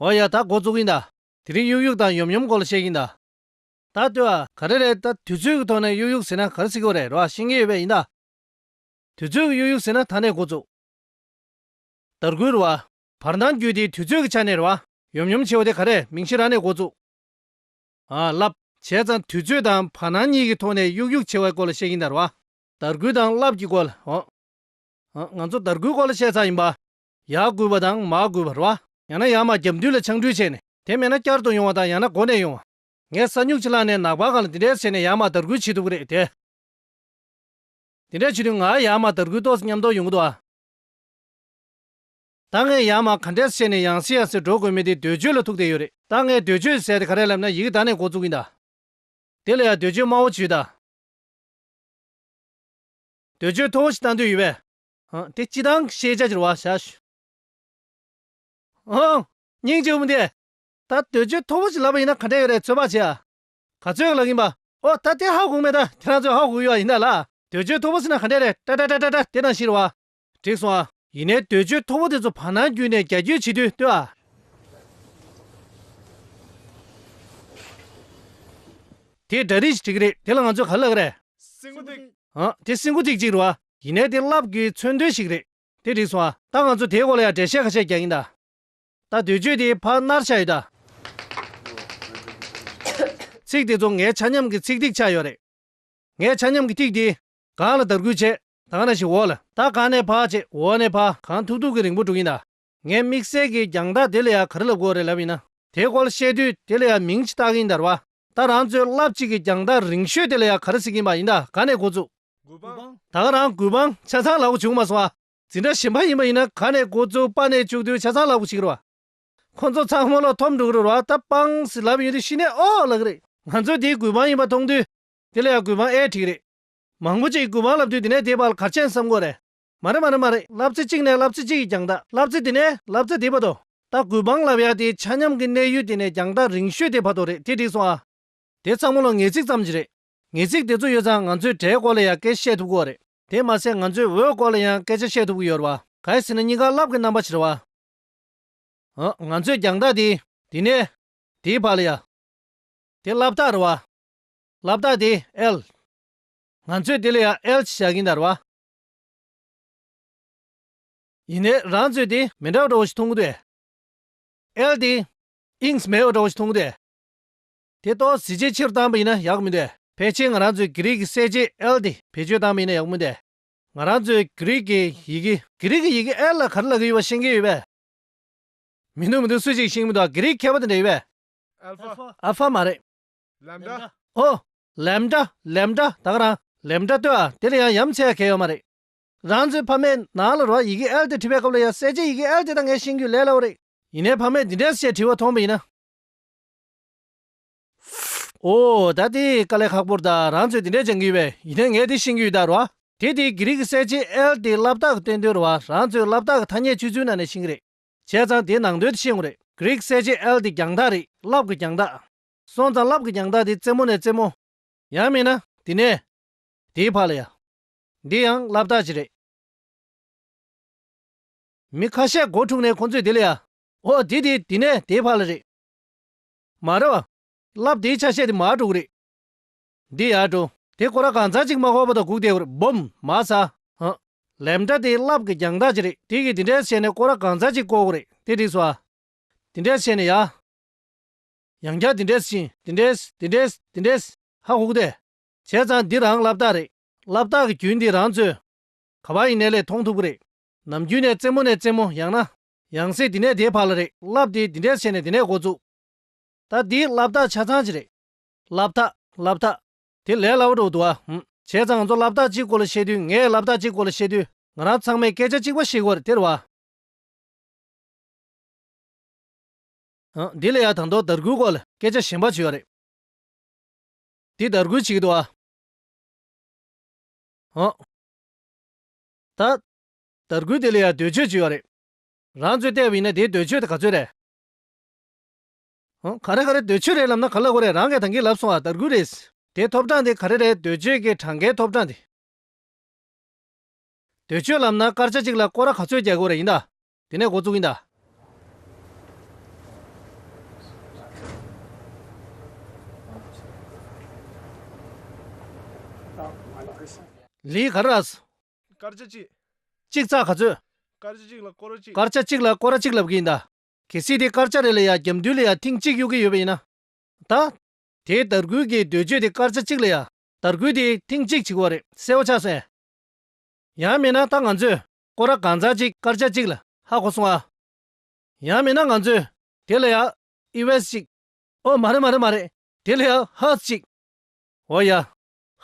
འོ་ཡ་ད་འགོ་བཙུགས་ཡིན་ད། དེ་རིང་གཡུག་གཡུག་དང་ཡོམ་ཡོམ་སྐོར་ལ་བཤད་ཀྱིན་ད། ད་ལྟོས་ཨ། ག་རེ་རེད་ད་དུས་ཚོད་ཀྱི་ཐོག་ནས་གཡུག་གཡུག་ཟེར་ན་ག་རེ་སྲིད་གོ་རེད་རོ་ཨ་ཤེས་མཁན་ཡོད་པས་ཡིན་ད། དུས་ཚོད་ཀྱི་གཡུག་གཡུག་ཟེར་ན་ད་ནས་འགོ་བཙུགས། དར་རྒུད་རོ་ཨ། བར་འདང་བརྒྱུད་དེ་དུས་ཚོད་ཀྱི་ཆ་ནས་རོ་ཨ། ཡོམ་ཡོམ་བྱེད་བ་དེ་ག་རེད་མིང་གཞི་རང་ནས་འགོ་བཙུགས། ཨ། རླབས། བྱས་ཙང་དུས་ཚོད་དང་བར་སྣང་གཉིས་ཀྱི་ཐོག་ནས་གཡུག་གཡུག་བྱེད་བའི་སྐོར་ལ་བཤད་ཀྱིན་ད་རོ་ཨ། དར་རྒུད་དང་རླབས་ཀྱི་སྐོར་ལ། ང་ཚོ་དར་གུད་སྐོར་ལ་བཤད་ཚར་ཡིན་པ། ཡར་བསྐུལ་བ་དང་མར་བསྐུལ་བ་རེད་བ། ཡང་ན་ཡར་མར་རྒྱབ་མདུན་ལ་འཕྱང་འཕྲུལ་བྱས་ནས་དེ་མེད་ན་བསྐྱར་དུ་ཡོང་བ་དང་ཡང་ན་འགོ་ནས་ཡོང་བ། ངས་ས་སྨྱུག་ཕྱི་ལག་ནས་ནག་པར་གང་ལ་འདི་འདྲས་བྱས་ནས་ཡར་མར་དར་གུད་བྱེད་ཐུབ་ཀྱི་རེད་དེ། འདི་འདྲས་བྱེད་དུས་ང་ཡར་མར་དར་གུད་ཏོག་སྙམ་དོགས་ཡོང་གི་འདུག་ཨ། ད་ངས་ཡར་མར་ག་འདྲས་བྱས་ནས་ཡང་སེ་ཡང་སེ་འགྲོ་དགོས་མེད་དེ་ཟློས་བརྗོད་ལ་ཐུག་བསྡད་ཡོད་རེད། ད་ངས་ཟློས་བརྗོད་ཟེར་ཏེ་ག་རེ་ལབ་ན་ཡིག་གདའ་ནས་འགོ་བཙུགས་ཀྱིན་གདའ། དེ་ལ་ཡང་ཟློས་བརྗོད་སྨྲ་བོ་བྱོས་གདའ། འདོད་འཇོའི་ཐོ་བོ་ཞིག་བཏང་འདོད་ཡོད་པས། ཨང། དེ་སྤྱི་དང་ཤེས་བྱ་གྱི་རུ་བ་བྱ། ཨང། སྙིང་རྗེ་འུ་འདི། ད་འདོད་འཇོའི་ཐོ་བོ་ཞིག་ལབ་པ་ཡིན་ན་ག་འདྲས་ཡོད་རེད་ཚོད་དཔག་བྱས་ཨ། ག་ཚོད་ཀྱི་ལག་ཡིན་པ། ཨོ་ད་དེ་ཧ་གོ་མེད་ད་དེ་རང་ཚོད་ཧ་གོ་གི་ཡོད་ཨ་ཡིན་ད་ལ། འདོད་འཇོའི་ཐོ་བོ་ཟེར་ན་ག་འདྲས་རེད་ཏྲ་ཏྲ་ཏྲ་ཏྲ་ཏྲ་དེ་དང་ཞིག་རུ་བ། འགྲིག་སོང་ཨ། ཡིན་ནའི་འདོད་ཆོས་མཐོ་བོ་དེ་ཚོ་བར་སྣང་བརྒྱུད་ནས་རྒྱ་ཁྱོད་བྱེད་དུས་ལྟོས་ཨ། དེ་འདྲ་རིགས་ཤིག་བྲིས་ཀྱི་རེད་དེ་ལ་ང་ཚོས་ག་ལ་བསླབ་ཀི་རེད། སྲིན་མགོ་ཐིག། ཨང། དེ་སྲིན་མགོ་ཐིག་ཅིག་རེད་བ། ཡིན་ནའི་དེ་བསླབ་དགོས་མཚོན་དོན་ཞིག་རེད། དེ་འགྲིག་སོང་ཨ། ད་ང་ཚོ་དེའི་སྐོར་ལ་ཡང་འགྲེལ་བཤད་ཁ་ཤས་རྒྱག་གིན་གདའ། ད་འདོད་ཆོས་དེའི་བར་སྣར་ཆགས་ཡོད་གདའ། ཚིག་དེ་ཚོ་ངའི་ཆ་མཉམ་གྱི་ཚིག་ཐིག་ཆགས་ཡོད་རེད། ངས་ཆ་མཉམ་གྱི་ཐིག་དེ། གང་ལ་དར་སྐུལ་བྱས། དང་ན་ཞིག་འོག་ལ། ད་གང་ནས་བག་ཅེས་འོག་ནས་བག། གང་ཐུག་ཐུག་གི་རིང་པོ་འགྲོ་གིན་གདའ། ངས་དམིགས་བསལ་གྱིས་རྒྱང་ཐག་དེ་ལ་ཡང་ག་རེ་ལབ་དགོས་རེད་ལབ་ཡིན་ན། དེ་སྐོར་བཤད་དུས་དེ་ལ་ཡང་མིང་ཅིག་བཏགས་གིན་གདའ། ར་ད་རང་ཚོའི་རླབས་གཅིག་གི་རྒྱང་ཐག་རིང་ཤོས་དེ་ལ་ཡང་ག་རེ་གཟིགས་གིན་པ་ཡིན་གདའ་ག་ནས་འགོ་བཙུགས། དགུ་པང། ད་ག་རང་དགུ་པང་ཆ་ཚང་ལག་གོ་བྱུང་མ་སོང་བ། འཛིན་གྲྭ་གཞན་པ་ཡིན་པ་ཡིན་ན་ག་ནས་འགོ་བཙུགས་པ་ནས་བཅུག་དུས་ཆ་ཚང་ལག་གོ་བྱེད་ཀྱི་རེད་བ། ཁོ་ཚོ་ཚང་སྨོན་ལོག་འཐོམ་འགྲོ་གི་རེད་བ་ད་པང་ཟིག་ལབ་ཡོང་དུས་ཤི་ནས་ཨོ་ལག་གི་རེད། ང་ཚོས་དེ་དགུ་པང་ཡིན་པ་མཐོང་དུས་དེ་ལ་ཡང་དགུ་པང་ཨེ་འགྲིག་གི་རེད། མང་པོ་ཅིག་གུས་པའང་ལབ་དུས་དེ་ནས་དེའི་བར་གར་ཆེན་བསམ་དགོས་རེད། མ་རེད་མ་རེད་མ་རེད་ལབ་ཙེ་གཅིག་ནས་ལབ་ཙེ་གཅིག་གིས་ཀྱང་ད་ལབ་ཙེ་དེ་ནས་ལབ་ཙེ་དེའི་བར་དུ། ད་གུས་པའང་ལབ་ཡག་དེའི་ཆ་སྙམ་གྱི་གནས་ཡུལ་དེ་ནས་ཀྱང་ད་རིང་ཤོས་དེའི་བར་དུ་རེད་དེ་འགྲིག་སོང་ཨ། དེ་ཚང་མ་ལོ་ངེས་ཚིག་ཙམ་གྱི་རེད། ངེས་ཚིག་དེ་ཚོ་ཡོད་ཙང་ང་ཚོས་སྒྲའི་སྐོར་ལ་ཡང་སྐད་བཤད་ཐུབ་གི་བ་རེད། དེ་མ་ཟད་ང་ཚོས་འོད་སྐོར་ལ་ཡང་སྐད་ཆ་བཤད་ཐུབ་གི་ཡོད་རེད་བ། གལ་སྲིད་ན་གཉིས་ཀ་བསླབ་གི་རྣམ་པ་བྱེད་རེད་བ། ཨང། ང་ཚོས་ཀྱང་ད་དེའི། དེ་ནས། དེའི་བར་ལ་ཡ། དེ་བསླབ་སྟངས་རེད་བ། ལབ་རྟགས་དེ་ཨེལ། ང་ཚོས་དེ་ལ་ཡང་ཨེལ་ཅེས་བྱ་གིན་དར་བ། ཡིན་ནའི་རང་ཚོས་དེ་མི་འདྲ་བ་འདྲ་བོ་ཞིག་མཐོང་གི་འདུག་ཨེལ་དེ་ཨིངས་མེད་པ་འདྲ་བོ་ཞིག་མཐོང་གི་འདུག་དེ་ཏོག་གཟི་བརྗིད་ཆེ་རུ་བཏང་པ་ཡིན་ན་ཡག་གི་མི་འདུག་ཕལ་ཆེར་ང་རང་ཚོས་གྷི་རིག་གི་གསལ་བྱེད་ཨེལ་དེ་བེད་སྤྱོད་བཏང་པ་ཡིན་ན་ཡག་གི་མི་འདུག་ང་རང་ཚོས་གྷི་རིག་གི་ཡི་གེ། གྷི་རིག་གི་ཡི་གེ་ཨེལ་ལ་ག་རེ་ལ་གི་ཡོད་པ་ཤེས་མཁན་ཡོད་པས། མི་འདུག་མི་འདུག་སུ་ཞིག་ཤེས་གི་མི་འདུག་གྷི་རིག་མཁས་པ་དེ་འདྲ་ཡོད་པས། ཨལ་ཧྥ་མ་རེད། ལེམ་བྲ། ཨོ། ལེམ་བྲ་ལེམ་བྲ་དག་རང་ལེམ་བྲ་ལྟོས་ཨ་དེ་ལ་ཡང་ཡམ་ཆེ་ཡ་གལ་ཡོད་མ་རེད། རང་ཚོའི་ཕ་མའི་ནང་ལ་རོ་ཨ་ཡི་གེ་ཨེལ་ཏེ་བྲིས་པའི་སྐབས་ལ་ཡང་གསལ་བྱེད་ཡི་གེ་ཨེལ་ཏེ་དང་ངའི་ཤེས་རྒྱུད་ལས་སླ་བོ་རེད། ཡིན་ནའི་ཕ་མས་འདི་འདྲའི་ཞེས་བྲིས་བ་མཐོང་པ་ཡིན་ན། ཨོ། ད་དེ་དཀའ་ལས་ཁག་པོར་ད་རང་ཚོས་འདི་འདྲས་སྦྱང་གི་ཡོད་པས་ཡིན་ནའི་ངའི་དེ་ཤེས་རྒྱུད་ད་རོ་ཨ་དེ་དེའི་གྷི་རིག་གི་གསལ་བྱེད་ཨེལ་ཏེ་བསླབ་རྟགས་སྟོན་དོན་རོ་ཨ་རང་ཚོའི་བསླབ་རྟགས་ཀྱི་ཐ་སྙད་ཆུད་ཟོས་ནང་ནས་ཤེས་གི་རེད། བྱས་ཙང་དེ་ནང་དོན་དེ་ཤེས་ངོ་རེད་གྷི་རིག་གསལ་བྱེད་ཨེལ་ཏེ་རྒྱང་ཐག་རེད་བསླབ་གི་རྒྱང་ཐག། སོང་ཙང་རླབས་ཀྱི་རྒྱང་ཐག་དེ་རྩེ་མོ་ནས་རྩེ་མོ། ཡང་མིན་ན་དེ་ནས་དེའི་བར་ལ་ཡང། འདི་ཡང་རླབས་རྟགས་ཀྱིས་རེད། མི་ཁ་ཤས་སྒོ་དྲུག་ནས་ཁོང་ཚོས་དེ་ལ་ཡང། ཨོ་དེ་དེ་དེ་ནས་དེའི་བར་ལ་རེད། མ་རེད་བ། རླབས་དེའི་ཆ་ཤས་དེ་མ་དྲུག་རེད། འདི་ཡང་དྲུག། དེ་སྐོར་ལ་གང་ཟག་གཅིག་མ་ཁོག་པ་དང་སྒུག་བསྡད་ཁུར་བུམ། མ་ས། ཧ། ལེམ་ཏྲ་དེ་རླབས་ཀྱི་རྒྱང་ཐག་ཀྱིས་རེད་དེ་གིས་དེ་འདྲའི་བྱས་ནས་སྐོར་ལ་གང་ཟག་གཅིག་བསྐོར་དགོས་རེད་དེ་འགྲིགས་སོ། དེ་འདྲའི་བྱས་ནས་ཡ། ཡང་བསྐྱར་འདི་འདྲས་ཤིང། འདི་འདྲས། འདི་འདྲས། འདི་འདྲས། ཧ་ཧུག་དེ། བྱས་ཙང་འདི་རང་བསླབ་རྟགས་རེད། བསླབ་རྟགས་ཀྱི་རྒྱུན་འདི་རང་ཚོས། ག་བ་ཡི་གནས་ལས་མཐོང་ཐུབ་ཀྱི་རེད། ནམ་རྒྱུན་ནས་རྩེ་མོ་ནས་རྩེ་མོ་ཡང་ན། ཡང་སྲིད་འདི་ནས་དེའི་བར་ལ་རེད། བསླབས་ཏེ་འདི་འདྲས་བྱས་ནས་འདི་ནས་འགོ་བཙུགས། ད་འདིའི་བསླབ་རྟགས་ཆ་ཚང་ཅི་རེད། བསླབ་རྟགས། བསླབ་རྟགས། དེ་ལས་སླ་བོ་འགྲོ་གི་འདུག་ཨ་ཧུམ། བྱས་ཙང་ང་ཚོ་བསླབ་རྟགས་གཅིག་སྐོར་ལ་བཤད་དུས་ངས་བསླབ་རྟགས་གཅིག་སྐོར་ལ་བཤད་དུས་ང་རང་ཚང་མས་སྐད་ཆ་གཅིག་པ་བཤད་དགོས་རེད་དེར་བ། འདི་ལ་ཡང་དང་ཐོག་དར་གུད་སྐོར་ལ་སྐད་ཆ་གཞན་པ་བྱོས་རེད། འདི་དར་གུད་ཅིག་ཏུ་ཨ། ད། དར་གུད་དེ་ལ་ཡང་འདོད་ཆོས་བྱོས་རེད། རང་ཚོས་བལྟས་པ་ཡིན་ན་དེའི་འདོད་ཆོས་དེ་ག་ཚོད་རེད། ག་རེ་ག་རེ་འདོད་ཆོས་རེད་ལབ་ན་ག་ལ་དགོས་རེད་རང་གིས་དང་གིས་ལབ་སོང་བ་དར་གུད་རེད། དེའི་ཐོབ་གྲངས་དེ་ག་རེ་རེད་འདོད་ཆོས་ཀྱི་གྲངས་ཀའི་ཐོབ་གྲངས་དེ། འདོད་ཆོས་ལབ་ན་སྐར་ཆ་གཅིག་ལ་སྐོར་ར་ག་ཚོད་རྒྱག་དགོས་རེད་ཡིན་ད། དེ་ནས་འགོ་བཙུགས་ཡིན་ད། ལིའི་ག་རཱ་ཟུ། སྐར་ཆ་གཅིག། གཅིག་ཚགས་ག་ཚོད། སྐར་ཆ་གཅིག་ལ་སྐོར་གཅིག། སྐར་ཆ་གཅིག་ལ་སྐོར་ར་གཅིག་ལབ་གི་ཡིན་ད། གལ་སྲིད་དེ་སྐར་ཆ་རེ་ལ་ཡ་རྒྱབ་མདུན་ལ་ཡ་ཐེངས་གཅིག་གཡུག་གི་ཡོད་པ་ཡིན་ན། ད། དེའི་དར་གུད་ཀྱི་འདོད་ཆོས་དེ་སྐར་ཆ་གཅིག་ལ་ཡ་དར་གུད་དེ་ཐེངས་གཅིག་བྱེད་དགོས་བ་རེད་གསལ་བོ་ཆགས་སོན། ཡང་མེད་ན་ད་ང་ཚོས་སྐོར་ར་གང་ཚར་གཅིག་སྐར་ཆ་གཅིག་ལ་ཧ་གོ་སོང་ཨ། ཡང་མིན་ན་ང་ཚོས་དེ་ལ་ཡང་ཨི་བས་གཅིག། ཨོ་མ་རེད་མ་རེད་མ་རེད་དེ་ལ་ཡང་ཧ་གཅིག། འོ་ཡ།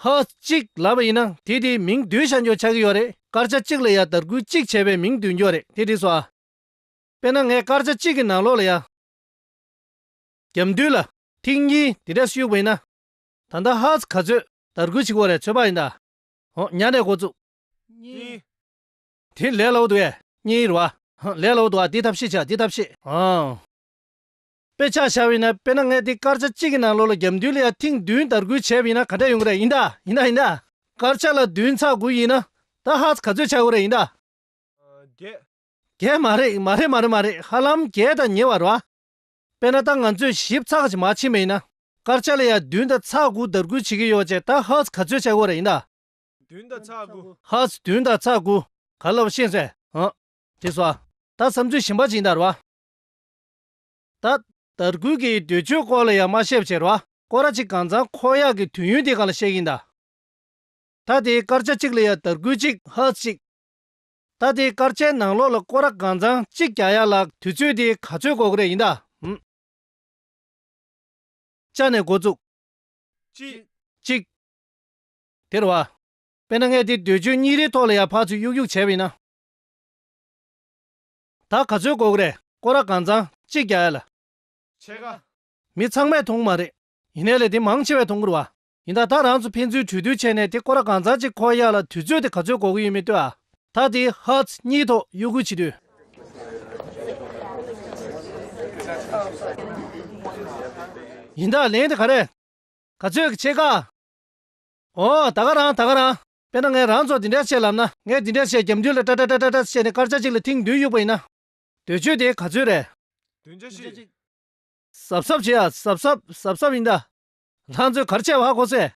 ཧ་གཅིག་ལབ་པ་ཡིན་ན་དེ་དེའི་མིང་བསྡུས་བྱ་འགྱོ་ཆགས་ཀྱི་ཡོད་རེད་སྐར་ཆ་གཅིག་ལ་ཡང་དར་རྒུད་གཅིག་བྱས་པའི་མིང་བསྡུས་འགྱོ་རེད་དེ་འགྲིགས་སོ་ཨ། དཔེར་ན་ངས་སྐར་ཆ་གཅིག་གི་ནང་ལོགས་ལ་ཡ། རྒྱབ་མདུན་ལ་ཐིག་གཉིས་དེ་འདྲས་གཡུགས་པ་ཡིན་ན། ད་ལྟ་ཧ་ག་ཚོས་དར་རྒུད་བྱེད་གོ་རེ་ཚོད་དཔག་ཡིན་ད། འོ་ཉག་ནས་གོ་བཙུགས། གཉིས། དེ་ལས་ལོག་ཏུ་གཉིས་རུ་བ། ལས་ལོག་ཏུ་བ་འདི་ཐབས་ཤེས་བྱ་འདི་ཐབས་ཤེས། དཔེ་ཆ་བྱ་བས་ན་དཔེར་ན་ངས་འདི་སྐར་ཆ་གཅིག་གི་ནང་ལོ་ལ་རྒྱབ་མདུན་ལ་ཡང་ཐེངས་བདུན་དར་རྒུད་བྱས་པ་ཡིན་ན་ག་འདྲ་ཡོང་གི་རེད་ཡིན་དཱ་ཡིན་དཱ་ཡིན་དཱ། སྐར་ཆ་ལ་བདུན་ཚགས་དགུ་ཡིན་ན་ད་ཧ་ག་ཚོད་བྱ་དགོས་རེད་ཡིན་དཱ། བརྒྱད། བརྒྱད་མ་རེད་མ་རེད་མ་རེད་མ་རེད་ཧ་ལམ་བརྒྱད་དང་ཉེ་བར་བ། དཔེར་ན་ད་ང་ཚོས་ཞིབ་ཚགས་ཀྱིས་མ་ཕྱིན་པ་ཡིན་ན་སྐར་ཆ་ལ་ཡང་བདུན་དང་ཚགས་དགུ་དར་རྒུད་བྱེད་ཀྱི་ཡོད་པ་བཅས་ད་ཧ་ག་ཚོད་བྱ་དགོས་རེད་ཡིན་དཱ། བདུན་དང་ཕྱག་དགུ། ཧཱུྃ། བདུན་དང་ཕྱག་དགུ། ག་ལ་བ་ཤེས་ཟེར། ཧཱུྃ། ཅེས་སོ། བདག་བསམ་ཚུལ་བཞིན་པ་ཇི་ལྟར་བ། བདག། དར་གུད་ཀྱི་འདོད་ཆོས་སྐོར་ལ་ཡང་མ་བཤད་པ་ཕྱིར། བ་ཀོ་ར་ཅིག་གང་ཚང་འཁོར་གཡག་གི་དུས་ཡུན་དེ་གང་ལ་བཤད་ཀྱིན་གདའ། ད་དེའི་སྐར་ཆ་གཅིག་ལ་ཡང་དར་གུད་གཅིག་ཧཱུྃ་གཅིག། ད་དེའི་སྐར་ཆའི་ནང་ལོགས་ལ་ཀོ་ར་གང་ཚང་གཅིག་གྱ་ཡ་ལ་དུས་ཚོད་དེ་ག་ཚོད་གོ་གི་རེད་ཡིན་གདའ། ཧཱུྃ། ཅག་ནས་འགོ་བཙུགས། གཅིག། གཅིག། དེར་བ། དཔེར་ན་ངས་དེ་འདོད་ཆོས་གཉིས་རེའི་ཐོག་ལ་ཡར་འཕགས་ཚུལ་གཡུག་གཡུག་བྱས་བས་ན། ད་ག་ཚོད་གོ་གི་རེད་ཀོ་ར་གང་ཚང་གཅིག་རྒྱག་ཡ་ལ། ཆད་ཀ། མི་ཚང་མས་མཐོང་གི་མ་རེད། ཡིན་ནའི་ལས་དེ་མང་ཆེ་བས་མཐོང་གི་རུ་བ། ཡིན་ད་ད་རང་ཚོ་ཕན་ཚུན་གྲོས་བསྡུར་བྱས་ནས་དེ་ཀོ་ར་གང་ཚང་གཅིག་འཁོར་ཡ་ལ་དུས་ཚོད་དེ་ག་ཚོད་གོ་གི་ཡོད་མེད་ལྟོས་ཨ། ད་དེ་ཧཱུྃ་གཉིས་ཐོག་གཡོ་སྒུལ་བྱེད་དུས། ཡིན་ད་ལན་དེ་ག་རེད། ག་ཚོད་ཀྱི་ཆད་ཀ། འོ། ད་ག་རང་ད་ག་རང། དཔེར་ན་ངས་རང་ཚོར་འདི་འདྲ་བྱས་ལབ་ན། ངས་འདི་འདྲ་བྱས་རྒྱབ་མདུན་ལ་ཏྲ་ཏྲ་ཏྲ་ཏྲ་ཏྲ་བྱས་ནས་སྐར་ཆ་གཅིག་ལ་ཐེངས་བདུན་གཡུག་པ་ཡིན་ན། འདོད་ཆོས་དེ་ག་ཚོད་རེད། བདུན་ཆ་གཅིག། གཟབ་གཟབ་བྱེད་ཨ་གཟབ་གཟབ་གཟབ་གཟབ་ཡིན་ད། རང་ཚོས་གར་བྱས་བ་ཧ་གོ་སྲས།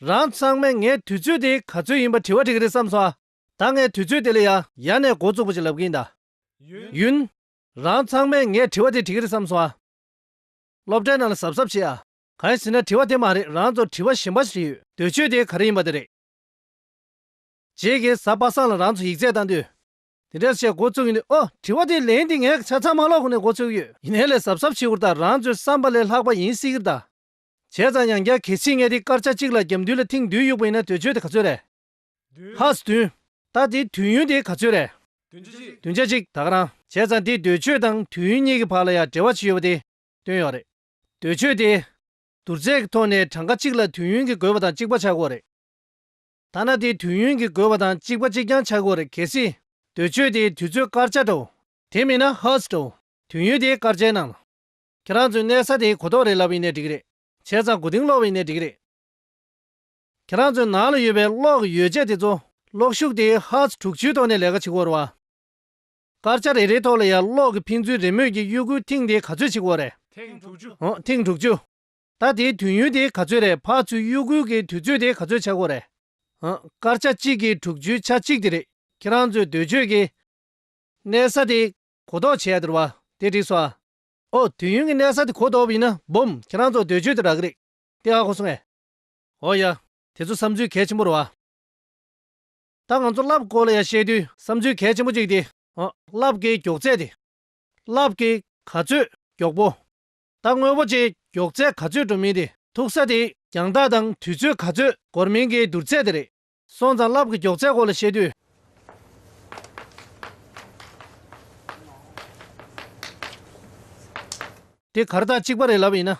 རང་ཚང་མས་ངས་དུས་ཚོད་དེ་ག་ཚོད་ཡིན་པ་དྲི་བ་དྲི་གི་རེད་བསམ་སོང་ཨ། ད་ངས་དུས་ཚོད་དེ་ལས་ཡ་ཡ་ནས་འགོ་བཙུགས་པ་ཞིག་ལབ་གི་ཡིན་ད། ཡུན། རང་ཚང་མས་ངས་དྲི་བ་དེ་དྲི་གི་རེད་བསམ་སོང་ཨ། སློབ་གྲྭའི་ནང་ལ་གཟབ་གཟབ་བྱེད་ཨ། གང་ཡིན་ཟེར་ན་དྲི་བ་དེ་མ་རེད་རང་ཚོར་དྲི་བ་གཞན་པ་ཞིག་ཡོད། འདོད་ཆོས་དེ་ག་རེ་ཡིན་པ་དེ་རེད། རྗེས་ཀྱི་གཟའ་པ་སངས་ལ་རང་ཚོ་ཡིག་རྩལ་བཏང་དུས། དེ་འདྲའི་བཤད་འགོ་བཙུགས་ཡོད་ནི་ཨོ་དྲི་བ་དེའི་ལན་དེ་ངས་ཆ་ཚང་མ་ཀློག་གོ་ནས་འགོ་བཙུགས་ཡོད། ཡིན་ནའི་ལས་གཟབ་གཟབ་བྱེད་ཁུར་དང་རང་ཚོའི་བསམ་པ་ལས་ལྷག་པ་ཡིན་སྲིད་གི་གདའ། བྱས་ཙང་ཡང་བསྐྱར་གལ་ཆེའི་ངའི་དེའི་སྐར་ཆ་གཅིག་ལ་རྒྱབ་མདུན་ལ་ཐེངས་བདུན་གཡུགས་པ་ཡིན་ན་འདོད་ཆོས་དེ་ག་ཚོད་རེད། ཧཱས་བདུན། ད་དེའི་དུས་ཡུན་དེ་ག་ཚོད་རེད། བདུན་ཆ་གཅིག་ད་ག་རང། བྱས་ཙང་དེའི་འདོད་ཆོས་དང་དུས་ཡུན་གཉིས་ཀྱི་བར་ལ་ཡང་འབྲེལ་བ་ཅིག་ཡོད་པ་དེ་སྟོན་ཡོད་རེད། འདོད་ཆོས་ཏེ། བསྡུར་ཚད་ཀྱི་ཐོག་ནས་གྲངས་ཀ་གཅིག་ལ་དུས་ཡུན་གྱི་དགོས་པ་དང་གཅིག་པ་ཆག་སྒོ་རེད། ཐ་ན་དེ་དུས་ཡུན་གྱི་དགོས་པ་དང་གཅིག་པ་གཅིག་རྐྱང་ཆག་སྒོ་རེད་གལ་སྲིད། འདོད་ཆོས་དེ་དུས་ཚོད་སྐར་ཆ་དྲོ། དེ་མིན་ན Hertz དྲོ། དུས་ཡུན་དེ་སྐར་ཆའི་ནང། ཁྱེད་རང་ཚོས་གནས་ས་དེའི་གོ་རྟོགས་རེ་ལབ་ཡིན་ནའི་འགྲིག་རེད། བྱས་ཙང་གོ་དིང་སློག་བ་ཡིན་ནའི་འགྲིག་རེད། ཁྱེད་རང་ཚོའི་ནང་ལ་ཡོད་པའི་གློག་གི་ཡོ་བྱད་དེ་ཚོ། གློག་ཤུགས་དེ Hertz དྲུག་ཅུའི་ཐོག་ནས་ལས་ཀ་བྱེད་སྒོ་རུ་བ། སྐར་ཆ་རེ་རེའི་ཐོག་ལ་ཡར་ཀློག་གི་ཕན་ཚུན་རེས་མོས་ཀྱིས་གཡོ་འགུལ་ཐེངས་དེ་ག་ཚོད་ཕྱིན་འགོ་རེད། ཐེངས་དྲུག་ཅུ། འོ། ཐེངས་དྲུག་ཅུ། ད་དེའི་དུས་ཡུན་དེ་ག་ཚོད་རེད་ཕག་ཚུལ་གཡོ་འགུལ་གྱི་དུས་ཚོད་དེ་ག་ཚོད་ཆགས་འགོ་རེད། འོ། སྐར་ཆ་གཅིག་གིས་དྲུག་ཅུའི་ཆ་གཅིག་དེ་རེད། ཁྱེད་རང་ཚོས་འདོད་ཆོས་ཀྱིས། གནས་ས་དེ་གོ་ལྡོག་བྱས་ཡ་དེར་བ་དེ་འགྲིག་སོང་ཨ། འོ། དུས་ཡུན་གྱི་གནས་ས་དེ་གོ་ལྡོག་པ་ཡིན་ན་འབུམ་ཁྱེད་རང་ཚོ་འདོད་ཆོས་དེ་རག་གི་རེད་དེ་ཨ་ཁོ་སོང་ཨེ། འོ་ཡ། དེ་ཚོ་བསམ་ཚུལ་གལ་ཆེན་པོ་རེད་བ། ད་ང་ཚོ་རླབས་སྐོར་ལ་ཡང་བཤད་དུས། བསམ་ཚུལ་གལ་ཆེན་པོ་གཅིག་སྟེ། རླབས་ཀྱི་མགྱོགས་ཚད་དེ། རླབས་ཀྱི་ག་ཚོད་མགྱོགས་པོ། ད་དངོས་པོ་ཅིག་མགྱོགས་ཚད་ག་ཚོད་འགྲོ་མིན་དེ། མཐུག་ས་དེ་རྒྱང་ཐག་དང་དུས་ཚོད་ག་ཚོད་འགོར་མིན་གྱི་བསྡུར་ཚད་དེ་རེད། སོང་ཙང་རླབས་ཀྱི་མགྱོགས་ཚད་སྐོར་ལ་བཤད་དུས། དེ་གར་ཐག་གཅིག་པ་རེད་ལབ་ཡིན་ན།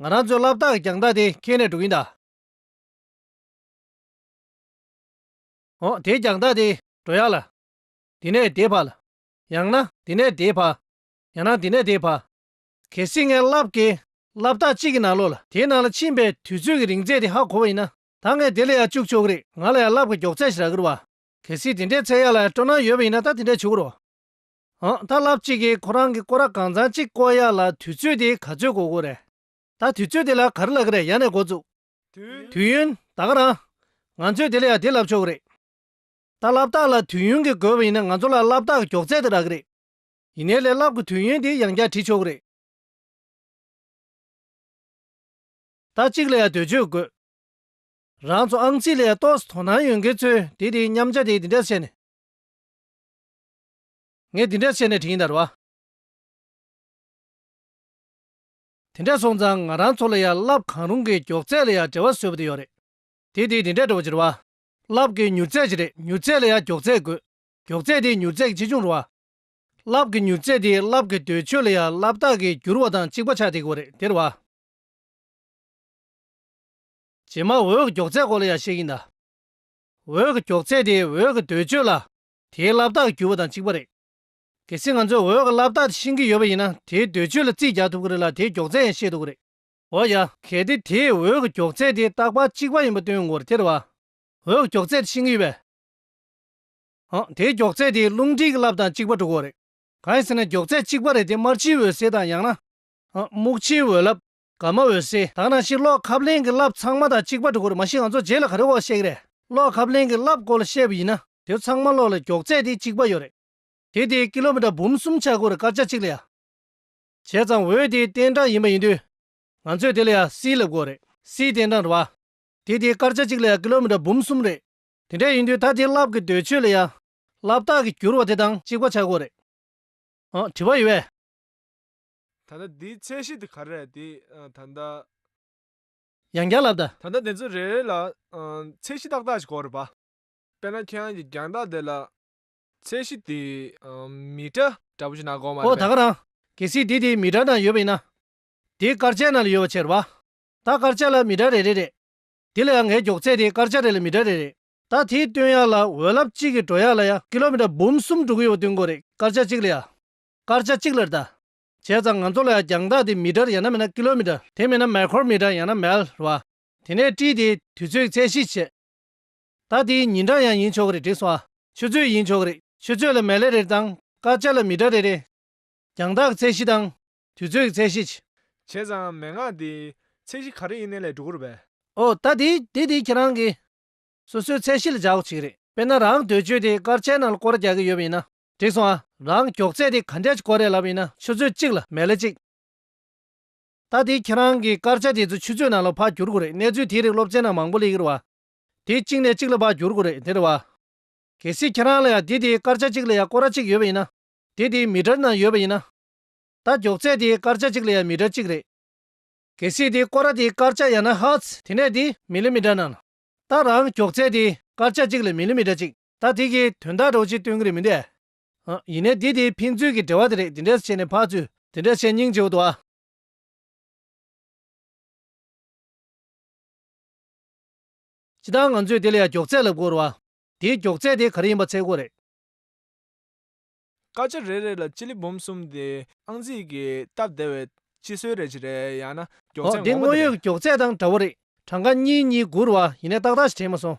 ང་རང་ཚོའི་བསླབ་བཏགས་ཀྱི་གྱང་ཐག་དེ་ཁྱེར་ནས་འགྲོ་གིན་གདའ། འོ་དེའི་གྱང་ཐག་དེ་འགྲོ་ཡག་ལ། དེ་ནས་དེའི་བར་ལ། ཡང་ན་དེ་ནས་དེའི་བར། ཡང་ན་དེ་ནས་དེའི་བར། གལ་སྲིད་ངའི་བསླབ་དགེ་བསླབ་བཏགས་གཅིག་གི་ནང་ལོགས་ལ་དེའི་ནང་ལ་ཕྱིན་པའི་དུས་ཚོད་ཀྱི་རིང་ཚད་དེ་ཧ་གོ་བ་ཡིན་ན་ད་ངས་དེ་ལ་ཡང་བཅུག་ཆོག་གི་རེད་ང་ལ་ཡང་བསླབ་དགེ་མགྱོགས་ཚད་ཞིག་རག་གི་རུ་བ། གལ་སྲིད་དེ་འདྲའི་ཚད་ཡག་ལ་སྤྲོ་སྣང་ཡོད་པ་ཡིན་ན་ད་དེ་འདྲ་བྱུག་གི་རུ། ཨང་ད་ལབ་ཅིག་གིས་ཁོ་རང་གི་སྐོར་ར་གང་ཚང་ཅིག་བསྐོར་ཡག་ལ་དུས་ཚོད་དེ་ག་ཚོད་གོ་གོ་རེད། ད་དུས་ཚོད་དེ་ལ་ག་རེ་ལ་གི་རེད་ཡ་ནས་འགོ་བཙུགས། དུས་ཡུན། ད་ག་རང། ང་ཚོས་དེ་ལ་ཡ་དེ་ལབ་ཆོག་གི་རེད། ད་ལབ་རྟགས་ལ་དུས་ཡུན་གི་དགོས་པ་ཡིན་ན་ང་ཚོ་ལ་ལབ་རྟགས་ཀི་མགྱོགས་ཚད་དེ་རག་གི་རེད། ཡིན་ནའི་ལས་ལབ་གི་དུས་ཡུན་དེ་ཡང་བསྐྱར་བྲི་ཆོག་གི་རེད། ད་གཅིག་ལ་ཡ་དུས་ཚོད་དགོས། རང་ཚོ་ཨང་རྩིས་ལ་ཡ་གཏོགས་སུ་དོ་སྣང་ཡོད་མཁན་ཚོས་དེ་དེའི་མཉམ་བྱ་དེ་དེ་འདྲ་བྱས་ནས། ངས་འདི་འདྲ་བྱས་ནས་དྲིན་དར་བ། དེ་འདྲ་སོང་ཙང་ང་རང་ཚོ་ལ་ཡང་རླབས་གང་རུང་གི་མགྱོགས་ཚད་ལ་ཡང་བྲེལ་བ་བཟོས་པ་དེ་ཡོད་རེད། དེ་དེ་འདི་འདྲས་འགྲོ་བ་ཅི་རེད་བ། རླབས་ཀྱི་མྱུར་ཚད་ཅི་རེད་མྱུར་ཚད་ལ་ཡང་མགྱོགས་ཚད་དགོས། མགྱོགས་ཚད་དེ་མྱུར་ཚད་ཀྱི་ཆེ་ཆུང་རེད་བ། རླབས་ཀྱི་མྱུར་ཚད་དེ་རླབས་ཀྱི་དོད་ཆོད་ལ་ཡང་རླབས་རྟགས་ཀྱི་འགྱུར་བ་དང་གཅིག་པ་ཆགས་དེ་གོ་རེད་དེར་བ། རྗེས་མ་འོད་ཀྱི་མགྱོགས་ཚད་སྐོར་ལ་ཡང་བཤད་ཀྱིན་གདའ། འོད་ཀྱི་མགྱོགས་ཚད་དེ་འོད་ཀྱི་དོད་ཆོད་ལ་དེའི་བསླབ་རྟགས་བསྒྱུར་བ་དང་གཅིག་པ་རེད། གལ་སྲིད་ང་ཚོས་འོད་ཀྱི་བསླབ་རྟགས་དེ་ཤེས་ཀྱི་ཡོད་པ་ཡིན་ན་དེའི་འདོད་ཚུལ་ལ་རྩིས་རྒྱག་ཐུབ་ཀྱི་རེད་ལ་དེའི་མགྱོགས་ཚད་ཡང་ཤེས་ཐུབ་ཀྱི་རེད། འོ་ཡ། གལ་ཏེ་དེས་འོད་ཀྱི་མགྱོགས་ཚད་དེ་རྟག་པར་གཅིག་པ་ཡིན་པ་སྟོན་འོར་དེར་བར། འོད་ཀྱི་མགྱོགས་ཚད་དེ་ཤེས་ཀྱི་ཡོད་པས། འང། དེའི་མགྱོགས་ཚད་དེ་རླུང་མཁྲིས་ཀྱི་བསླབ་དང་གཅིག་པ་འགྲོ་གི་རེད། གང་ཡིན་ཟེར་ན་མགྱོགས་ཚད་གཅིག་པ་རེད་དེ་དམར་ཕྱིའི་འོད་ཟེར་དང་ཡང་ན། འང། སྨུག་ཕྱིའི་འོད་བསླབ། དགའ་མ་འོད་ཟེར་དང་ནང་ཆེན་ཀློག་ཁབ་གླེང་གི་བསླབ་ཚང་མ་དང་གཅིག་པ་འགྲོ་དགོས་རེད་མ་གཞི་ང་ཚོ་རྗེས་ལ་ག་རེ་བ་བཤད་ཀྱི་རེད་ཀློག་ཁབ་གླེང་གི་བསླབ་སྐོར་ལ་བཤད་པ་ཡིན་ན་དེ་ཚང་མ་ཀློག་ལ་མགྱོགས་ཚད་དེ་གཅིག་པ་ཡོད་རེད་དེ་དེ་ཀི་ལོ་མི་ཏྲ་འབུམ་གསུམ་ཆ་བགོས་རེད་སྐར་ཆ་གཅིག་ལ་ཡ་བྱས་ཙང་འོད་དེ་གཏན་གྲངས་ཡིན་པ་ཡིན་དུས་ང་ཚོས་དེ་ལ་ཡ་སིའི་ལབ་དགོས་རེད་སིའི་གཏན་གྲངས་རེད་བ། དེ་དེ་སྐར་ཆ་གཅིག་ལ་ཡ་ཀི་ལོ་མི་ཏྲ་འབུམ་གསུམ་རེད། དེ་འདྲ་ཡིན་དུས་ད་དེ་བསླབ་ཀྱི་འདོད་ཆོས་ལ་ཡ་བསླབ་རྟགས་ཀྱི་འགྱུར་བ་དེ་དང་གཅིག་པ་ཆ་བགོས་རེད། དྲི་བ་ཡོད་བས། ད་ལྟ་དེའི་ཚད་གཞི་དེ་ག་རེད་དེ་ད་ལྟ། ཡང་བསྐྱར་ལབ་ད། ད་ལྟ་དེ་ཚོ་རེ་རེ་ལ། ཚད་གཞི་ཏག་ཏག་ཞིག་གོ་རེ་བ། དཔེར་ན་ཁྱེད་རང་གི་རྒྱང་ཐག་དེ་ལ། ཚད་གཞི་དེ། མི་ཏྲ། འདྲ་པོ་ཞིག་ན་གོ་མ་རེད་ཨོ་ད་པས། ག་རང། གལ་སྲིད་དེ་དེའི་མི་ཏྲ་ན་ཡོད་པ་ཡིན་ན། དེའི་སྐར་ཆ་ན་ལ་ཡོད་བ་ཆེ་རེ་བ། ད་སྐར་ཆ་ལ་མི་ཏྲ་རེ་རེ་རེད། དེ་ལ་ཡང་ངའི་མགྱོགས་ཚད་དེ་སྐར་ཆ་རེ་ལ་མི་ཏྲ་རེ་རེད། ད་དེའི་སྟོན་ཡག་ལ་འོད་རླབས་གཅིག་གི་འགྲོ་ཡག་ལ་ཡང་ཀི་ལོ་མི་ཏྲ་འབུམ་གསུམ་འགྲོ་གི་ཡོད་བ་བསྟུན་གོ་རེ་སྐར་ཆ་གཅིག་ལ་ཡང། སྐར་ཆ་གཅིག་ལ་རྟ། བྱས་ཙང་ང་ཚོ་ལ་ཡང་རྒྱང་ཐག་དེ་མི་དྲར་ཡང་ན་མིན་ན་ཀི་ལོ་མི་དྲར་དེ་མིན་ན་མལ་ཁོར་མི་དྲར་ཡང་ན་མལ་བ། དེ་ནས་བཀྲིས་དེས་དུས་ཚོད་ཚད་གཞི་བྱས། ད་དེའི་ཉིན་གྲངས་ཡང་ཡིན་ཆོག་གི་རེད་དྲིས་སོང་ཨ། ཆུ་ཚོད་ཡིན་ཆོག་གི་རེད་ཆུ་ཚོད་ལ་མལ་ལེ་རེར་དང་སྐར་ཆ་ལ་མི་དྲར་རེ་རེ། རྒྱང་ཐག་གི་ཚད་གཞི་དང། དུས་ཚོད་ཀྱི་ཚད་གཞི་བྱས། བྱས་ཙང་མན་ངག་དེས་ཚད་གཞི་ག་རེ་ཡིན་ནའི་ལས་འགྲོ་གི་རེད་བས། ཨོ། ད་དེ་དེ་དེ་ཁྱེད་རང་གིས། སོ་སོའི་ཚད་གཞི་ལ་བཞག་གོ་བྱེད་གི་རེད། དཔེར་ན་རང་འདོད་ཆོས་དེ་སྐར་ཆའི་ནང་ལ་སྐོར་རྒྱག་གི་ཡོད་པ་ཡིན་ན། འགྲིག་སོང་ཨ། རང་མགྱོགས་རྩལ་དེ་ག་འདྲ་ཅིག་ཀོ་རེད་ལབ་ཡིན་ན་ཆུ་ཚོད་གཅིག་ལ་མལ་ལེ་གཅིག། ད་དེ་ཁྱེད་རང་གི་སྐར་ཆ་དེ་ཚོ་ཆུ་ཚོད་ནང་ལ་བག་འགྱུར་དགོས་རེད་གནས་ཚུལ་དེའི་རིགས་སློབ་ཚན་ནང་མང་པོ་ལེ་གི་རེད་བ། དེ་གཅིག་ནས་གཅིག་ལ་བག་འགྱུར་དགོས་རེད་དེ་རེད་བ། གལ་སྲིད་ཁྱེད་རང་ལ་ཡང་དེ་དེའི་སྐར་ཆ་གཅིག་ལ་ཡང་ཀོ་ར་གཅིག་ཡོད་པ་ཡིན་ན། དེ་དེའི་མི་སྒྲར་ནང་ཡོད་པ་ཡིན་ན། ད་མགྱོགས་རྩལ་དེའི་སྐར་ཆ་གཅིག་ལ་ཡང་མི་སྒྲར་གཅིག་རེད། གལ་སྲིད་དེ་ཀོ་ར་དེའི་སྐར་ཆ་ཡང་ན་ཧར་ཚ་དེ་ནས་དེ་མི་ལེ་མི་སྒྲར་ནང། ད་རང་མགྱོགས་རྩལ་དེའི་སྐར་ཆ་གཅིག་ལ་མི་ལེ་མི་སྒྲ་གཅིག། ད་དེ་གི་དོན་དག་གྲོགས་ཅིག་སྟོན་གི་རེད་མི་འདྲས། ཨ། ཡིན་ནའི་དེ་དེའི་ཕན་ཚུན་གི་འབྲེལ་བ་དེ་རེད་དེ་འདྲས་བྱས་ནས་ཕག་ཚུལ་དེ་འདྲས་བྱས་སྙིང་རྗེ་བོ་དོ། ཅི་ད་ང་ཚོས་དེ་ལ་ཡང་མགྱོགས་ཚད་ལབ་དགོས་རོ། དེའི་མགྱོགས་ཚད་དེ་ག་རེ་ཡིན་པ་ཚད་དགོས་རེད། སྐར་ཆ་རེ་རེ་ལ་སྤྱི་ལེ་འབུམ་གསུམ་དེ་ཨང་རྩིས་ཀྱི་སྟབས་བདེ་བའི་སྤྱི་སྲོལ་རེད་ཅི་རེད་ཡང་ན་མགྱོགས་ཚད་འོ་དེ་ངོ་བོ་དངོས་དེ་ཡོད་རེད། ཀྱི་མགྱོགས་ཚད་དང་འདྲ་བོ་རེད་གྲངས་ཀ་གཉིས་གཉིས་དགུ་རུ་བ་ཡིན་ནའི་ཏག་ཏག་ཞིག་དྲན་མ་སོང།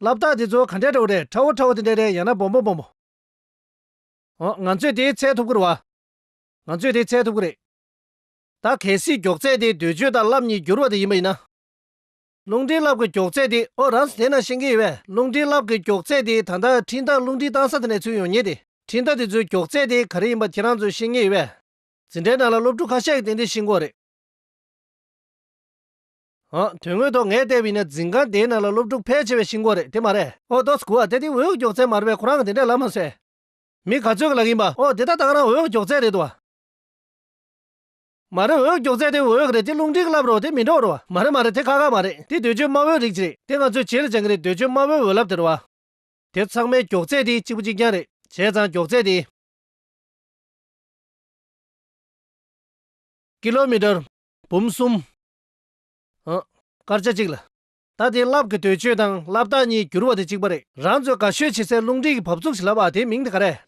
ལབ་རྟགས་དེ་ཚོ་ག་འདྲའི་དྲ་བོ་རེད་ཁྲ་བོ་ཁྲ་བོ་དེ་འདྲའི་རེད་ཡང་ན་སྦོམ་པོ་སྦོམ་པོ། འོ་ང་ཚོས་དེའི་ཚད་ཐུབ་ཁུར་བ། ང་ཚོས་དེའི་ཚད་ཐུབ་ཁུར་རེད། ད་གལ་སྲིད་མགྱོགས་ཚད་དེ་སྡོད་བྱོས་དང་རླབས་གཉིས་འགྱུར་བ་དེ་ཡིན་པ་ཡིན་ན། རླུང་འཕྲིན་རླབས་ཀྱི་མགྱོགས་ཚད་དེ་ཨོ་རང་ས་དེ་ན་ཤེས་ཀྱི་ཡོད་པས་རླུང་འཕྲིན་རླབས་ཀྱི་མགྱོགས་ཚད་དེ་ད་ལྟ་འཕྲིན་རྟགས་རླུང་འཕྲིན་བཏང་ས་དེ་ནས་ཚུད་ཡོང་ངེས་ཏེ་འཕྲིན་རྟགས་དེ་ཚོའི་མགྱོགས་ཚད་དེ་ག་རེ་ཡིན་པ་ཁྱེད་རང་ཚོས་ཤེས་ངེས་ཡོད་པས། འཛིན་གྲྭའི་ནང་ལ་སློབ་ཕྲུག་ཁ་ཤས་ཀྱིས་ཏན་ཏན་ཤེས་མགོ་རེད། ཨ། དོན་དངོས་ཐོག་ངས་བལྟས་པའི་ནི་འཛིན་ཁང་དེའི་ནང་ལ་སློབ་ཕྲུག་ཕལ་ཆེ་བའི་ཤིང་སྒོ་རེད་དེ་མ་རེད། ཨོ་ཏོ་སྐུ་བ་དེ་དེ་འོས་བསྐོས་མགྱོགས་ཚད་མ་རེད་པས་ཁོ་རང་གི་དེ་འདྲས་ལབ་མ་ཟེར། མི་ག་ཚོད་ཀྱི་ལག་ཡིན་པ། ཨོ་དེ་ད་ལྟ་ང་རང་འོས་བསྐོས་མགྱོགས་ཚད་རེད་འདུག་བ། མ་རེད་འོས་བསྐོས་མགྱོགས་ཚད་དེ་འོས་ཀྱི་རེད་དེ་རླུང་འཕྲིན་གྱི་ལབ་རོགས་དེ་མི་འགྲོགས་རོགས་བ། མ་རེད་མ་རེད་དེ་ཁ་ཁ་མ་རེད་དེ་འདོད་འཇོའི་དམར་བོའི་རིགས་གཅིག་རེད་དེ་ང་ཚོས་བྱེད་ལ་སྦྱང་གི་རེད་འདོད་འཇོའི་དམར་བོའི་འོས་ལབ་དེ་རུ་བ། དེ་ཚང་མའི་མགྱོགས་ཚད་དེ་གཅིག་པོ་གཅིག་རྐྱང་རེད། བྱས་ཙང་མགྱོགས་ཚད་དེ། ཀི་ལོ་མི་ཏར། འབུམ་གསུམ། ཨང། སྐར་ཆ་གཅིག་ལ། ད་དེ་རླབས་ཀྱི་དོད་གཅོད་དང་རླབས་རྟགས་གཉིས་བསྒྱུར་བ་དེ་གཅིག་པ་རེད། རང་ཚོས་དགའ་ཤོས་བྱེད་སའི་རླུང་འཕྲིན་གྱི་བབས་ཚུགས་བྱེད་ལབ་ཨ་དེའི་མིང་དེ་ག་རེད།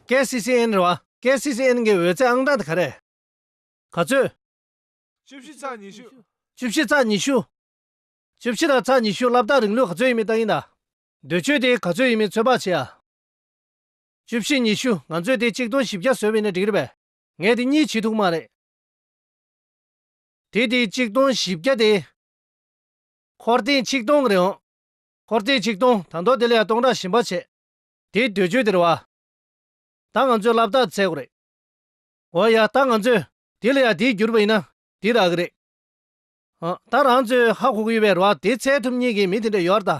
KCCN། རེད་བ། KCCN གྱི་འོད་ཟེར་ཨང་གྲངས་དེ་ག་རེད། ག་ཚོད། བཅུ་བཞི་ཚགས་ཉི་ཤུ། བཅུ་བཞི་ཚགས་ཉི་ཤུ། བཅུ་བཞི་དང་ཚགས་ཉི་ཤུ་རླབས་རྟགས་རིང་ལུགས་ག་ཚོད་ཡིན་མིན་བལྟ་གིན་གདའ། དོད་གཅོད་དེ་ག་ཚོད་ཡིན་མིན་ཚོད་དཔག་བྱེད་ཨ། བཅུ་བཞི་ཉི་ཤུ་ང་ཚོས་དེ་གཅིག་སྟོང་བཞི་བརྒྱ་བཟོས་བས་ན་འགྲིག་རེད་བས། ངས་དེ་གཉིས་བྱེད་ཐུབ་མ་རེད། དེ་དེ་ཆིག་སྟོང་བཞི་བརྒྱ་སྟེ། འཁོར་ཐེངས་ཆིག་སྟོང་རེད་འོང། འཁོར་ཐེངས་ཆིག་སྟོང་དང་ཐོག་དེ་ལས་ཡང་སྟོང་ཕྲག་ཞིམ་པ་བྱེད། དེ་དུས་ཆོས་དེར་བ། ད་ང་ཚོས་ལབ་ཐག་ཚད་དགོས་རེད། འོ་ཡ་ད་ང་ཚོས་དེ་ལས་ཡང་དེ་བསྒྱུར་བ་ཡིན་ན་དེ་རག་གི་རེད། ཨ་ད་རང་ཚོས་ཧ་གོ་གི་ཡོད་པའི་ར་བ་དེ་ཚད་ཐུབ་ཉིད་ཀྱི་མི་དེ་འདྲ་ཡོད་ད།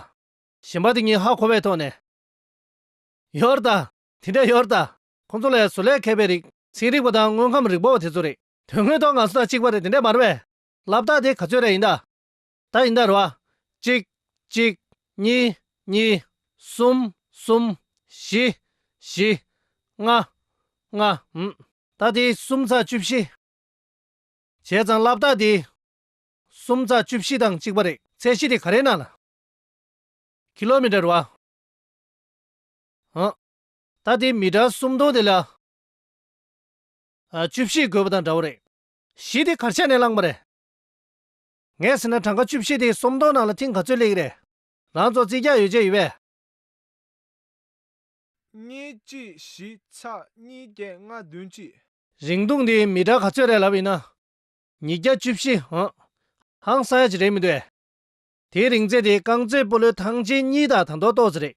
ཞིམ་པ་དེ་གཉིས་ཧ་གོ་བའི་ཐོག་ནས། ཡོད་ད་དེ་འདྲ་ཡོད་ད། ཁོང་ཚོ་ལས་བཟོ་ལས་མཁས་པའི་རིགས། ཚན་རིག་པ་དང་དངོས་ཁམས་རིག་པ་བ་དེ་ཚོ་རེད། དོན་དངོས་ཐོག་ང་ཚོ་དང་གཅིག་པ་རེད་དེ་འདྲས་མ་རེད་བས། ལབ་རྟགས་དེ་ག་ཚོད་རེད་ཡིན་ད། ད་ཡིན་ད་རེད་བ། གཅིག། གཅིག། གཉིས། གཉིས། གསུམ། གསུམ། བཞི། བཞི། ལྔ། ལྔ། ཨུམ། ད་དེ་གསུམ་ཚ་བཅུ་བཞི། བྱས་ཙང་ལབ་རྟགས་དེ། གསུམ་ཚ་བཅུ་བཞི་དང་གཅིག་པ་རེད། ཚད་གཞི་དེ་ག་རེད་ན། ལ། ཁི་ལོ་མི་ཏྲར་བ། ཨུམ། ད་ལྟའི་མི་དྲག་སུམ་སྟོང་དེ་ལ། བཅུ་བཞི་དགོས་པ་དང་འདྲ་བོ་རེད། གཞི་དེ་གར་ཆགས་ནས་བླངས་པ་རེད། ངས་ཟེར་ན་གྲངས་ཀ་བཅུ་བཞི་དེ་སུམ་སྟོང་ནང་ལ་ཐིང་ག་ཚོད་སླེགས་རེད། རང་ཚོ་རྩིས་རྒྱག་ཡོད་ཆ་ཡོད་པས། གཉིས་གཅིག་བཞི་ཆ་གཉིས་བརྒྱད་ལྔ་བདུན་གཅིག། རིང་ཐུང་དེ་མི་དྲག་ག་ཚོད་རེད་ལབ་ཡིན་ན། ཉིས་བརྒྱ་བཅུ་བཞི་འང། ཧང་སང་ཡ་ཅིག་རེད་མི་འདུག་ཨེ། དེའི་རིང་ཚད་དེ་རྐང་རྩེད་སྤོ་ལོའི་ཐང་ཆེན་གཉིས་དང་དང་ཐོག་ཏོག་ཙེ་རེད།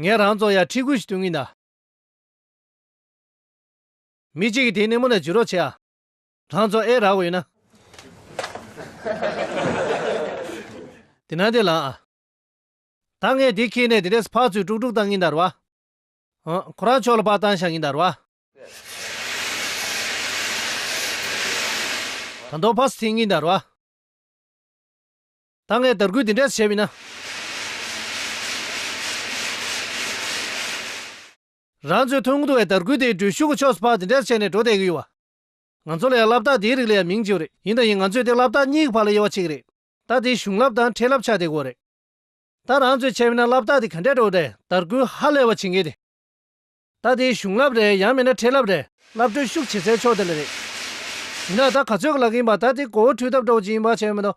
ངས་རང་བཙོང་ཡག་ཁྲིད་ཁུལ་ཞིག་བསྟུན་གིན་གདའ། མི་གཅིག་གིས་དེ་སྣེ་མོ་ནས་འཇུ་རོགས་བྱེད་ཨ། རང་བཙོང་ཨེ་རག་གོ་ཡོད་ན། དེ་ནང་དེ་ལངས་ཨ། ད་ངས་དེ་ཁྱེར་ནས་དེ་ལས་སུ་ཕག་ཚོས་དཀྲུག་དཀྲུག་བཏང་གིན་གདའ་རུ་ཨ། ཧོན། ཁོ་རང་ཕྱོགས་ལ་པགས་བཏང་བཞག་གིན་གདའ་རུ་ཨ། ད་མདོག་ཕག་སུ་འཐེན་གིན་གདའ་རུ་ཨ། ད་ངས་དར་རྒུད་འདི་འདྲ་བྱས་མིན་ན། རང་ཚོའི་ཐོན་ཁུངས་བཏུ་བའི་དར་རྒུད་དེའི་འགྲུལ་ཞུགས་ཀྱི་ཕྱོགས་སུ་ཕག་འདི་འདྲ་བྱས་ནས་འགྲོ་བསྡད་ཀྱི་ཡོད་བ། ང་ཚོ་ལ་ཡང་རླབས་རྟགས་དེའི་རིགས་ལ་ཡང་མིང་ཅིག་རེད་ཡིན་དང་ཡིན་ང་ཚོས་དེ་རླབས་རྟགས་གཉིས་ཀྱི་བར་ལ་དབྱེ་བ་ཕྱེ་གི་རེད། ད་དེའི་གཞུང་རླབས་དང་འཕྲེད་རླབས་ཆགས་བསྡད་དགོས་རེད། ད་རང་ཚོས་བྱས་མིན་ན་རླབས་རྟགས་དེ་ག་འདྲས་འགྲོ་འདྲས་དར་རྒུད་ཧ་ལས་བ་བྱེད་འགན་དེ། ད་དེའི་གཞུང་རླབས་རེད་ཡང་མིན་ན་འཕྲེད་རླབས་རེད། རླབས་འགྲུལ་ཞུགས་བྱེད་སའི་ཕྱོགས་དེ་ལ་རེད། ཡིན་ན་ད་ག་ཚོད་ཀྱི་ལག་གི་ཡིན་པ་ད་དེ་གོ་བོ་འཁྲུད་ཐབས་འགྲོ་བ་ཅིག་ཡིན་པ་བྱས་ཡོད་མི་འདུག་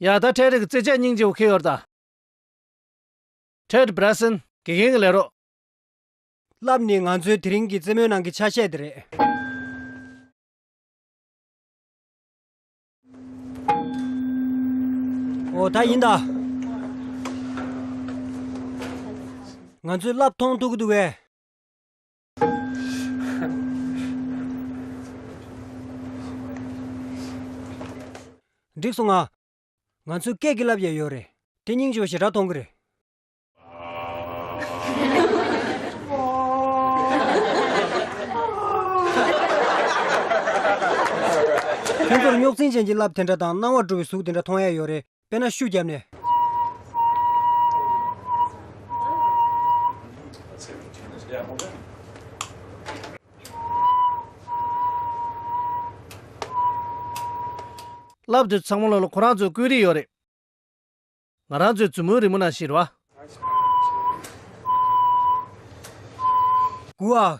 ཡང་དག་ཁྲལ་རིགས་ཀྱི་རྩེད་ཆས་སྙིང་རྗེ་བོ་ཁེ་ཡོར་དང། Trade Bracelet། དགེ་རྒན་གྱི་ལས་རོགས། བསླབ་ནི་ང་ཚོའི་དེ་རིང་གི་རྩེད་མོའི་ནང་གི་ཆ་ཤས་དེ་རེད། ཨོ་ད་ཡིན་ད། ང་ཚོས་བསླབ་མཐོང་ཐུག་གི་འདུག་བས། འགྲིག་སོང་ང། ང་ཚོའི་སྐད་ཀྱི་ལབ་ཡས་ཡོད་རེད། དེ་སྙིང་ཅོ་ཞེ་དྲག་གཏོང་གི་རེད། ཁྱོད་ཚོར་རྙོག་འཛིང་ཅན་གྱི་ལབ་དེ་འདྲ་དང་སྣང་བ་འགྲོ་བའི་གཟུགས་དེ་འདྲ་མཐོང་ཡས་ཡོད་རེད། དཔེར་ན་ཤུགས་བརྒྱབ་ནས། ལབ་དུས་ཚང་མ་ལོ་ལོ་ཁོ་རང་ཚོའི་བརྐོས་རིས་ཡོད་རེད། ང་རང་ཚོའི་མཛུབ་མོའི་རི་མོ་ནང་བཞིན་རོ། གུ་ཨ།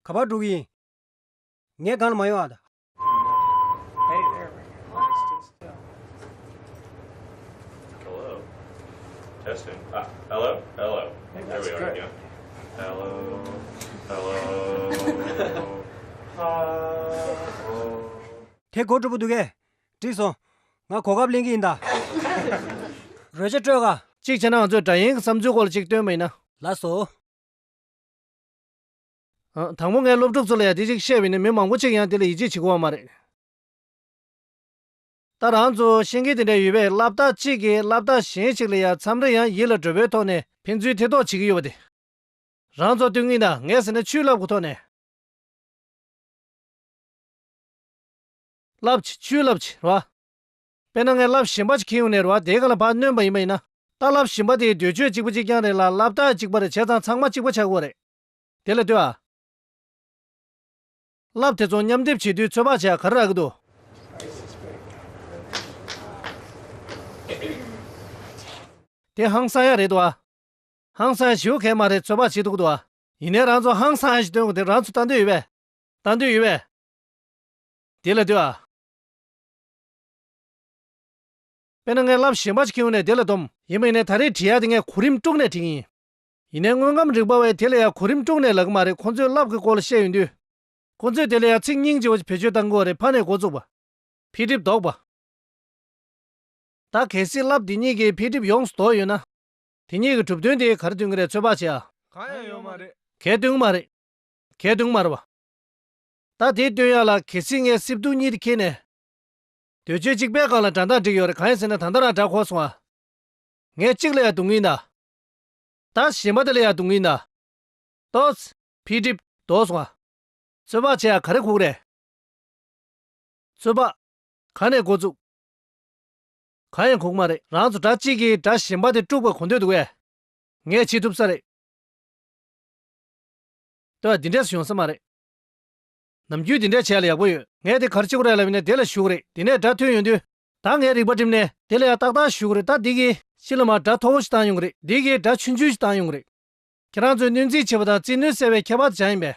ག་པར་འགྲོ་གི་ཡིན། ངས་གང་ལ་མ་ཡོང་ཨ། དེ་གོ་གྲུབ་པོ་འདུག་གས། བྲིས་སོང། ང་གོ་སྐབས་གླེང་གི་ཡིན་ད། རོལ་ཆ་སྤྲོད་ག། གཅིག་བྱས་ན་ང་ཚོས་སྒྲ་ཡན་གྱི་བསམ་ཚུལ་སྐོར་ལ་གཅིག་བཏོན་པ་ཡིན་ན། ལགས་སོ། དང་པོ་ངས་སློབ་ཕྲུག་ཚོ་ལ་ཡང་དེ་ཅིག་བཤད་བས་ནི་མི་མང་པོ་ཅིག་ཡང་དེ་ལ་ཡིད་ཆེས་བྱེད་དགོས་བ་མ་རེད། ད་རང་ཚོ་ཤེས་མཁན་དེ་འདྲ་ཡོད་པས་བསླབ་བརྟག་གཅིག་གིས་བསླབ་བརྟག་གཞན་ཞིག་ལ་ཡང་མཚམས་རེ་ཡང་ཡིད་ལ་དྲོད་པོའི་ཐོག་ནས་ཕན་ཚུན་ཐེ་གཏོགས་བྱེད་ཀྱི་ཡོད་པ་དེ། རང་ཚོ་ལྟོས་ངན་ན་ངས་ཟེར་ན་ཆུའི་རླབས་ཀྱི་ཐོག་ནས། རླབས་ཆེ་ཆུའི་རླབས་ཆེ་རེད་བ། དཔེར་ན་ངས་རླབས་ཞན་པ་ཞིག་ཁེངས་ཡོང་ནས་རེད་བ་དེའི་ག་ལ་བག་ནོན་པ་ཡིན་པ་ཡིན་ན། ལྟ་རླབས་ཞན་པ་དེའི་འདོད་ཆོས་གཅིག་པ་གཅིག་རྐྱང་རེད་ལ་བསླབ་བརྟག་གཅིག་པར་བྱས་ཙང་ཚང་མ་གཅིག་པ་ཆགས་དགོས་རེད། དེ་ལ་ལྟོས། བསླབ་དེ་ཚོ་མཉམ་སྡེབ་བྱེད་དུས་ཚོད་དཔག་བྱས་ག་རེ་རག་གི་འདུག། དེ་ཧང་སང་ཡ་རེད་འདུག་ཨ། ཧང་སང་ཞིའོ་གས་མ་རེད་ཚོད་དཔག་བྱེད་འདུག་གི་འདུག་ཨ། ཡིན་ནའི་རང་ཚོ་ཧང་སང་ཨ་ཞིག་སྟོན་དགོས་དེ་རང་ཚོ་ལྟ་འདོད་ཡོད་པས། ལྟ་འདོད་ཡོད་པས། དེ་ལ་ལྟོས། དཔེར་ན་ངས་བསླབ་གཞན་པ་ཞིག་གི་ངོས་ནས་དེ་ལ་སྡོམ། ཡིན་པ་ཡིན་ནའི་ད་རེས་བྲིས་ཡ་དེ་ངས་གོ་རིམ་དཀྲུགས་ནས་བྲིས་ཀྱི་ཡིན། ཡིན་ནའི་དངོས་ཁམས་རིག་པ་བས་དེ་ལ་ཡང་གོ་རིམ་དཀྲུགས་ནས་ལག་གི་མ་རེད་ཁོང་ཚོས་རླབས་ཀྱི་སྐོར་ལ་བཤད་ཡོང་དུས། ཁོང་ཚོས་དེ་ལ་ཡང་ཚིག་སྙིང་རྗེ་བོ་ཞིག་བེད་སྤྱོད་བཏང་གི་བ་རེད་ཕ་ནས་འགོ་བཙུགས་པ། འཕེལ་འགྲིབ་ལྡོག་པ། ད་གལ་སྲིད་རླབས་དེ་གཉིས་ཀྱིས་འཕེལ་འགྲིབ་ཡོངས་སུ་དོགས་ཡོད་ན། དེ་གཉིས་ཀྱི་གྲུབ་དོན་དེ་གར་བསྟུན་གྱི་རེད་ཚོད་དཔག་བྱེད་ཨ། གང་ཡང་ཡོད་མ་རེད། གས་བསྟུན་མ་རེད། གས་བསྟུན་མ་རེད་བ། ད་དེའི་སྟོན་ཡག་ལ་གལ་སྲིད་ངས་སིབ་དུག་གཉིས་དེ་འཁྱེར་ནས། དུས་ཚོད་གཅིག་པའི་སྒང་ལ་དགྲ་འདང་བསྒྲིགས་ཡོད་རེད་གང་ཡིན་ཟེར་ན་ད་ལྟ་རང་དགྲ་འཁོར་སོང་ཨ། ངས་གཅིག་ལ་ཡང་དུག་ངན་གདའ། བདག་གཞན་པ་དེ་ལ་ཡང་དུང་གིས་ན། ཏོག། འཕེལ་འགྲིབ། དོགས་སོང། རྩོད་པ་བྱས་ཡང་ག་རེ་ཁུག་རེ། རྩོད་པ། ག་ནས་འགོ་བཙུགས། གང་ཡང་ཁུག་མ་རེད། རང་ཚོ་དགྲ་གཅིག་གིས་དགྲ་གཞན་པ་དེ་དཀྲུགས་པར་གོ་འདོད་འདུག་བས། ངས་བྱེད་ཐུབ་ས་རེད། ལྟོས་ཡ་འདི་འདྲས་སུ་ཡོང་ས་མ་རེད། ནམ་རྒྱུན་འདི་འདྲས་བྱས་ལ་ཡག་པོ་ཡོད། ངས་དེ་གར་ཅིག་གོ་རེ་ལབ་ཡིན་ན་དེ་ལ་ཞུགས་རེད། དེ་ནས་དགྲ་ཐོན་ཡོང་དུས། ད་ངས་རིག་པ་བསྒྲིམས་ནས་དེ་ལ་ཡང་ཏག་ཏག་ཞུ་གི་རེད་ད་འདི་གིས་ཕྱི་ལ་མར་སྒྲ་མཐོ་བོ་ཞིག་བཏང་ཡོང་གི་རེད་འདི་གིས་སྒྲ་ཆུན་ཆུན་ཞིག་བཏང་ཡོང་གི་རེད། ཁྱེད་རང་ཚོས་སྣོན་རྩིས་བྱེད་པ་དང་རྩིས་སྣོན་གསལ་བའི་ཁྱད་པར་ཅང་ཡིན་པས།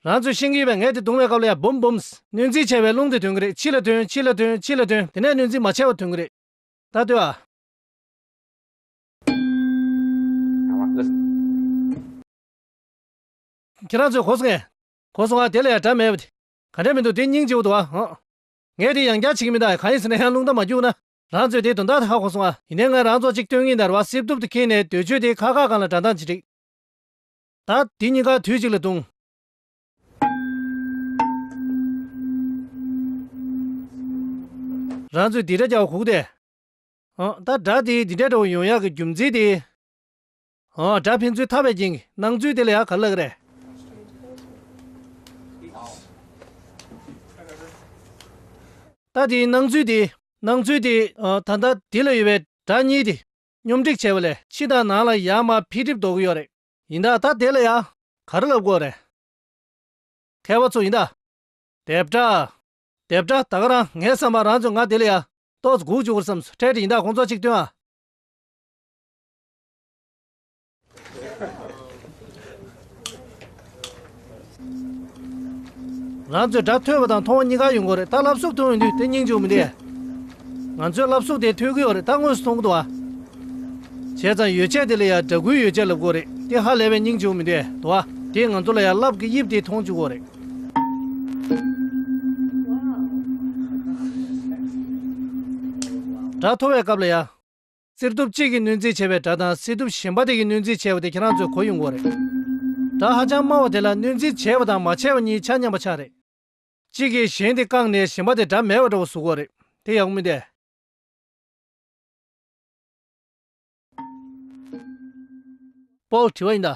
རང་ཚོས་ཤེས་ཀྱི་ཡོད་པས་ངས་དེ་རྡུང་བའི་སྐབས་ལ་ཡང་བུམ་བུམས། སྣོན་རྩིས་བྱས་པའི་རླུང་དེ་དོན་གྱི་རེད་ཕྱི་ལ་དོན་ཕྱི་ལ་དོན་ཕྱི་ལ་དོན་དེ་ནས་སྣོན་རྩིས་མ་བྱས་པར་དོན་གྱི་རེད། ད་ལྟོས་ཨ། ཁྱེད་རང་ཚོས་གོ་སོང་ངས། གོ་སོང་ཨ་དེ་ལ་ཡང་སྒྲ་མེད་པ་དེ། ག་འདྲ་མི་འདུག་དེ་སྙིང་རྗེ་བོ་འདུག་ཨ་ཨང། ངས་དེ་ཡང་བསྐྱར་བྱེད་ཀྱི་མི་འདུག་གང་ཡིན་ཟེར་ན་ཡང་རླུང་རྟ་མ་རྒྱུགས་ན། རང་ཚོས་དེ་དོན་དག་དེ་ཧ་གོ་སོང་ཨ། ཡིན་ནའི་ང་རང་ཚོ་ཅིག་སྟོན་ངེས་འདར་བ་སིབ་དུབ་ཏུ་ཁེངས་ནས་སྡོད་བྱོས་དེ་ཁག་ཁག་གང་ལ་འདྲ་མདངས་ཅི་རིགས། ད། དེ་གཉིས་ཀ་དུས་གཅིག་ལ་བརྡུང། རང་ཚོས་དེ་འདྲ་རྒྱག་བ་ཁུག་སྟེ། ཨང། ད་དགྲ་དེས་འདི་འདྲ་འདྲ་བོ་ཡོང་ཡག་གི་རྒྱུ་མཚན་དེ། སྒྲ་ཕན་ཚུན་ཐར་བའི་རྐྱེན་གྱིས་སྣང་ཚུལ་དེ་ལ་ཡང་ག་ལ་རེ། ལྟ་དེའི་སྣང་ཚུལ་དེ། སྣང་ཚུལ་དེ། ད་ལྟ་དེ་ལ་ཡོད་པའི་སྒྲ་གཉིས་དེ། སྙོམས་སྒྲིག་བྱས་པ་ལས་ཕྱི་དང་ནང་ལ་ཡར་མར་འཕེལ་འགྲིབ་འདོགས་གི་ཡོད་རེད། ཡིན་ད་ལྟ་དེ་ལ་ཡང་ག་རེ་ལབ་དགོས་རེད། མཁས་པ་ཚོ་ཡིན་ད། དེབ་སྒྲ། དེབ་སྒྲ་ད་ག་རང་ངའི་བསམ་པར་རང་ཚོས་ང་དེ་ལ་ཡང་ཏོག་ཙེ་སྒུག་བཅུག་གུར་བསམས་སུ་སྤྲད་དེ་ཡིན་ད་ཁོང་ཚོ་གཅིག་མཐུན་ཨ། ང་ཚོས་སྒྲ་ཐོས་པ་དང་མཐོང་བ་གཉིས་ཀ་ཡོད་དགོས་རེད་ད་ལབ་སུབ་མཐོང་ཡོང་དུས་དེ་སྙིང་འཇུག་མི་འདེད། ང་ཚོས་ལབ་སུབ་དེ་ཐོས་གི་ཡོད་རེད་ད་དངོས་སུ་མཐོང་གི་འདུག་བ། བྱས་ཙང་ཡོ་བྱད་དེ་ལ་ཡང་སྒྲ་གུའི་ཡོ་བྱད་ལབ་དགོས་རེད་དེ་ཧ་ལས་པའི་སྙིང་འཇུག་མི་འདེད་དུ་བ། དེས་ང་ཚོ་ལ་ཡང་རླབས་ཀྱི་དབྱིབས་དེ་མཐོང་བཅུག་གོ་རེད། སྒྲ་མཐོ་བའི་སྐབས་ལ་ཡང། རྩིར་གཏུབ་གཅིག་གིས་གནོད་འཚེ་བྱས་པའི་སྒྲ་དང་རྩིར་གཏུབ་གཞན་པ་དེ་གིས་གནོད་འཚེ་བྱས་པ་དེ་ཁྱེད་རང་ཚོའི་གོ་ཡོད་མགོ་རེད། སྒྲ་ཧ་ཅང་དམའ་བ་དེ་ལ་གནོད་འཚེ་བྱས་པ་དང་མ་བྱས་པ་གཉིས་ཆ་མཉམ་པ་ཆགས་རེད། གཅིག་གིས་གཞན་དེ་བཀག་ནས་གཞན་པ་དེ་སྒྲ་མེད་པ་འདྲ་བོ་ཟུག་གོ་རེད། དེ་ཡག་པོ་མིན་ཏེ། པོ་དྲི་བ་ཡིན་ད།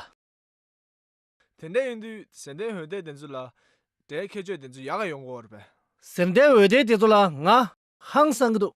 དེ་འད་ཡིན་དུས་ཟེར་འདས་འོད་འད་དེ་ཚོ་ལ་སྒྲའི་ཁྱད་ཆོས་དེ་ཚོ་ཡག་ཡོད་མགོ་རེད། ཟེར་འདས་འོད་འད་དེ་ཚོ་ལ་ང་ཧང་སང་གི་འདུག།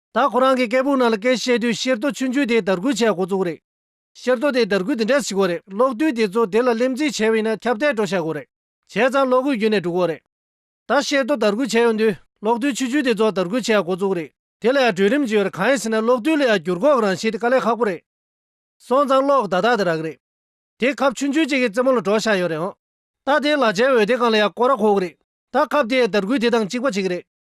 ད་ཁོ་རང་གི་སྐད་སྦུག་ནང་ལ་སྐད་བཤད་དུས་ཤེར་རྡོ་ཆུང་ཆུང་དེ་དར་རྒུད་བྱས་འགོ་བཙུགས་རེད། ཤེར་རྡོ་དེ་དར་རྒུད་འདི་འདྲ་བྱེད་དགོས་རེད་གློག་རྡུལ་དེ་ཚོ་དེ་ལ་སླེབས་འཛིན་བྱས་བས་ན་ཁྱབ་གདལ་འགྲོ་བྱ་དགོས་རེད། བྱས་ཙང་གློག་སྒུལ་རྒྱུན་ནས་འགྲུག་གོ་རེད། ད་ཤེར་རྡོ་དར་རྒུད་བྱས་ཡོང་དུས་གློག་རྡུལ་ཆུ་ཆུ་དེ་ཚོ་དར་རྒུད་བྱས་འགོ་བཙུགས་རེད། དེ་ལ་ཡང་གྲོས་རིམ་བྱེད་པར་གང་ཡིན་ཟེར་ན་གློག་རྡུལ་ལ་ཡང་འགྱུར་འགོག་རང་བཞིན་དེ་དཀའ་ལས་ཁག་པོ་རེད། སོང་ཙང་གློག་བརྡ་རྟགས་དེ་རག་རེད། དེ་ཁབ་ཆུང་ཆུང་གཅིག་གི་རྩེ་མོ་ལ་འགྲོ་བྱ་ཡོད་རེད་ཨང། ད་དེའི་ལག་ཆའི་འོད་དེ་གང་ལ་ཡང་བསྐོར་རག་ཁོག་རེད། ད་ཁབ་དེ་ཡང་དར་རྒུད་དེ་དང་གཅིག་པ་བྱེད་ཀྱི་རེད།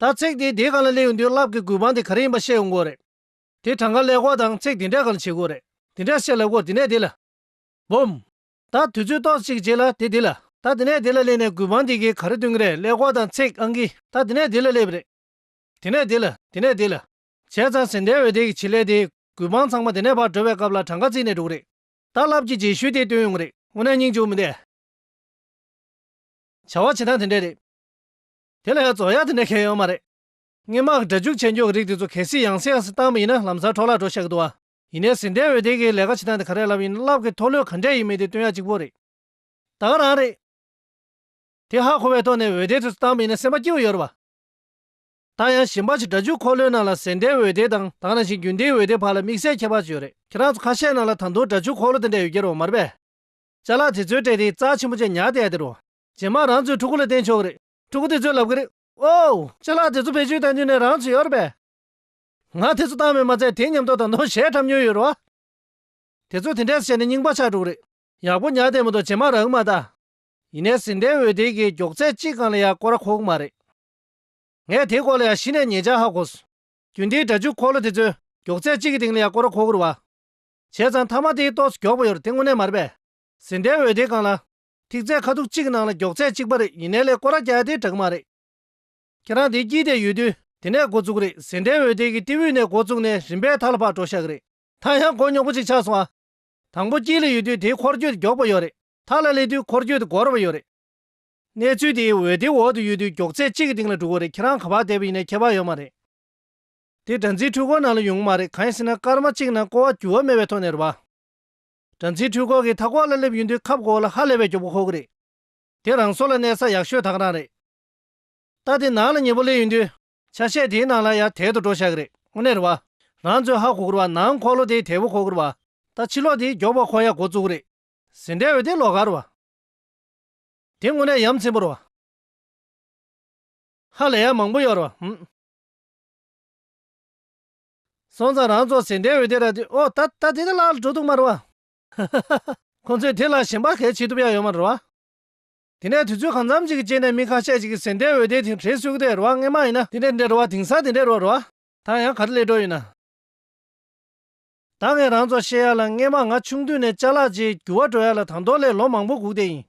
ད་ཚེགས་དེའི་དེ་ག་ལ་གླེང་ཡོང་དུས་རླབས་ཀྱི་རྒུད་པང་དེ་ག་རེ་ཡིན་པ་བཤད་ཡོང་དགོས་རེད། དེ་གྲངས་ཀ་ལས་སྒོ་དང་ཚེགས་དེ་འདྲས་ག་ལ་བྱེད་དགོས་རེད། དེ་འདྲས་བཤད་ལ་སྒོ་དེ་ནས་དེ་ལ། བུམ། ད་དུས་ཚོད་ཏོག་ཅིག་བྱས་ལ་དེ་དེ་ལ། ད་དེ་ནས་དེ་ལ་སླེབས་ནས་རྒུད་པང་དེ་གའི་ག་རེ་སྟོན་གི་རེད་ལས་སྒོ་དང་ཚེགས་ཨང་གི་ད་དེ་ནས་དེ་ལ་སླེབས་རེད། དེ་ནས་དེ་ལ་དེ་ནས་དེ་ལ། བྱས་ཙང་ཟིན་འདྲའི་འོད་དེ་གི་བྱེད་ལས་དེ་རྒུད་པང་ཚང་མ་དེ་ནས་བར་གྲོལ་བའི་སྐབས་ལ་གྲངས་ཀ་བརྩིས་ནས་འགྲོ་གི་རེད། ད་རླབས་ཀྱི་རྗེས་ཤུལ་དེ་སྟོན་ཡོང་གི་རེད་དངོས་གནས་སྙིང་བཅུག་མི་འདེད། བྱ་བ་བྱེད་སྟངས་དེ་འདྲས་རེད། དེ་ལ་ཡང་རྫོགས་ཡག་དེ་འདྲ་མཁན་ཡོད་མ་རེད། སྔས་མ་སྒྲ་འཇུག་བྱེད་མགྱོགས་ཀྱི་རིགས་དེ་ཚོ་གལ་སྲིད་ཡང་སེ་ཡང་སེ་བཏང་བ་ཡིན་ན་ལམ་སར་འཕྲོ་བརླག་འགྲོ་ཤག་གི་འདུག་ཨ། ཡིན་ནས་ཟིན་བྲལ་འོད་སྡེར་གྱིས་ལས་ཀ་བྱེད་སྟངས་དེ་ག་རེ་ལབ་ཡིན་ན་ལབ་ཀི་ཐོག་ལོས་ག་འདྲས་ཡིན་མིན་དེ་སྟོན་ཡག་གཅིག་པོ་རེད། ད་ག་རང་རེད། དེ་ཧ་གོ་བའི་ཐོག་ནས་འོད་སྡེར་དེ་ཚོ་བཏང་བ་ཡིན་ན་སེམས་པ་སྐྱིད་བོ་ཡོད་རེད་བ། ད་ཡང་ཞིམ་པ་ཆེ་སྒྲ་འཇུག་འཁོར་ལོའི་ནང་ལ་ཟིན་བྲལ་འོད་སྡེར་དང་དང་ནང་བཞིན་རྒྱུན་ལྡན་འོད་སྡེར་བར་ལ་དམིགས་བསལ་ཁྱད་པར་ཅིག་ཡོད་རེད། ཁྱེད་རང་ཚོ་ཁ་ཤས་ནང་ལ་ད་དུང་སྒྲ་འཇུག་འཁོར་ལོ་དེ་འདྲ་ཡོད་ཀྱི་རེད་བ་མ་རེད་པས། བཅའ་ལག་དེ་ཚོའི་གྲས་དེ་རྩ་ཆེན་པོ་ཅན་ཉག་དེ་ཡ་དེ་རེད་བ། རྗེས་མ་རང་ཚོའི་ཕྲུ་གུ་ལ་བསྟན་ཆོག་གི་རེད། ཕྲུ་གུ་དེ་ཚོས་ལབ་གི་རེད། ཨོའོ། སྤྱི་ལག་དེ་ཚོ་བེད་སྤྱོད་བཏང་དུས་ནས་རང་ཚོ་ཡོད་རེད་པས། ང་དེ་ཚོ་བཏང་མེད་མ་ཚད་དེའི་ཉམས་རྟོགས་དང་ནོར་བཤད་འཁྲབ་མྱོང་ཡོད་རེད་བ། དེ་ཚོས་དེ་འདྲས་བྱས་ནས་རྙིང་པ་ཆགས་འགྲོ་གི་རེད། ཡག་པོ་ཉག་བསྡད་མི་འདུག་རྗེས་མ་རག་གི་མ་གདའ། ཡིན་ནས་ཟིན་བྲལ་འོད་སྡེར་གྱིས་མགྱོགས་ཚད་གཅིག་གང་ལ་ཡང་སྐོར་ཁོག་གི་མ་རེད། ངས་དེའི་སྐོར་ལ་ཡང་གཞི་ནས་ཉེས་ཆ་ཧ་གོ་སོང། རྒྱུན་དེའི་སྒྲ་འཇུག་འཁོར་ལོ་དེ་ཚོས་མགྱོགས་ཚད་གཅིག་གི་སྟེང་ལ་ཡང་སྐོར་ཁོག་གི་རེད་བ། བྱས་ཙང་མཐའ་མ་དེའི་ཏོག་སུ་མགྱོགས་པོ་ཡོད་རེད་དེ་དངོས་གནས་མ་རེད་པས། ཟིན་བྲལ་འོད་སྡེར་གང་ལ། ཐིག་རྩེ་ཁ་ཐུག་གཅིག་གི་ནང་ལ་མགྱོགས་ཚད་གཅིག་པ་རེད་ཡིན་ནའི་ལས་ཀོ་ར་རྒྱག་ཡ་དེ་དྲག་མ་རེད། ཁྱེད་རང་དེ་སྐྱིད་དེ་ཡོད་དུས་དེ་ནས་འགོ་བཙུགས་རེད་ཟེ་འབྲས་འོད་དེ་གི་ཏི་ཝུས་ནས་འགོ་བཙུགས་ནས་རིམ་པས་ཐག་ལ་བག་དྲོ་ཤག་རེད། ཐག་ཡང་གོ་མྱོགས་པོ་གཅིག་ཆགས་སོང་ཨ། དང་པོ་སྐྱིད་ལ་ཡོད་དུས་དེའི་འཁོར་སྐྱོད་མགྱོགས་པོ་ཡོད་རེད་ཐག་ལ་སླེབས་དུས་འཁོར་སྐྱོད་དེ་འགོར་བ་ཡོད་རེད། གནས་ཚུལ་དེ་འོད་དེ་འོག་ཏུ་ཡོད་དུས་མགྱོགས་ཚད་གཅིག་གི་སྟེང་ལ་འགྲོ་གི་རེད་ཁྱེད་རང་ག་བག་དེད་པ་ཡིན་ནའི་ཁྱད་པར་ཡོད་མ་རེད། དེ་སྦྲ་འཛིན་འཕྲུལ་འཁོར་ནང་ལ་ཡོང་གི་མ་རེད་གང་ཡིན་ཟེ་ན་སྐར་མ་གཅིག་ནང་ཀོ་བ་འགྱུར་བ་མེད་པའི་ཐོག་ནས་རུ་བ། སྦྲང་རྩིའི་འཁྲུལ་འཁོར་གྱི་མཐའ་འཁོར་ལ་སླེབས་ཡོད་དུས་ཁ་བསྐོར་བ་ལ་ཧ་ལས་པའི་གྱོགས་པོ་ཁོག་རེད། དེ་རང་སོ་ལ་གནས་ས་ཡག་ཤོས་དག་རང་རེད། རྟ་དེ་ནང་ལ་ཉེ་པོ་སླེབས་ཡོད་དུས། ཆ་ཤས་དེའི་ནང་ལ་ཡར་དལ་དུ་འགྲོ་ཤག་རེད། དངོས་གནས་རེད་བ། རང་ཚོའི་ཧ་གོ་ཁུར་བ་ནང་འཁོར་ལོ་དེའི་དལ་བུ་ཁོག་རེད་བ། རྟ་ཕྱི་ལོག་དེའི་གྱོགས་པ་ཁོག་ཡག་གོ་བཙུགས་རེད། ཟིན་བྲལ་བའི་དེ་ལོག་ག་རེད་བ། དེ་དངོས་གནས་ཡམ་ཚིམ་པོ་རེད་བ། ཧ་ལས་ཡག་མང་པོ་ཡོད་རེད་བ། སོང་ཙང་རང་ཚོ་ཟིན་བྲིས་འོད་སྡེར་ར་དེ་འོ་ད་ད་དེ་ནི་ལག་ལ་འགྲོ་འདུག་མ་རེད་བ། ཁོང་ཚོས་དེ་ལ་ཞེན་པ་གལ་ཆེ་ཐུབ་ཡ་ཡོད་མ་རེད་བ། དེ་ནས་དུས་ཚོད་གང་འཚམ་ཅིག་གི་རྗེས་ནས་མི་ཁ་ཤས་ཅིག་གིས་ཟིན་བྲིས་འོད་སྡེར་དེ་བྲིས་སུས་ཀི་དེ་རེད་བ་རྔན་མ་ཡིན་ན་དེ་འདྲས་འདྲས་རེད་བ་དེང་སང་དེ་འདྲས་རོགས་རེད་བ། ད་ཡང་ག་རེ་ལས་འགྲོ་ཡིན་ན། ད་ངས་རང་ཚོ་བཤད་ཡ་ལ་རྔན་མ་ང་ཆུང་དུས་ནས་ལྕགས་ལག་རྗེས་རྒྱུ་བ་འགྲོ་ཡ་ལ་དང་ཐོག་ལས་ལོ་མང་པོ་སྒུག་དེ་ཡིན།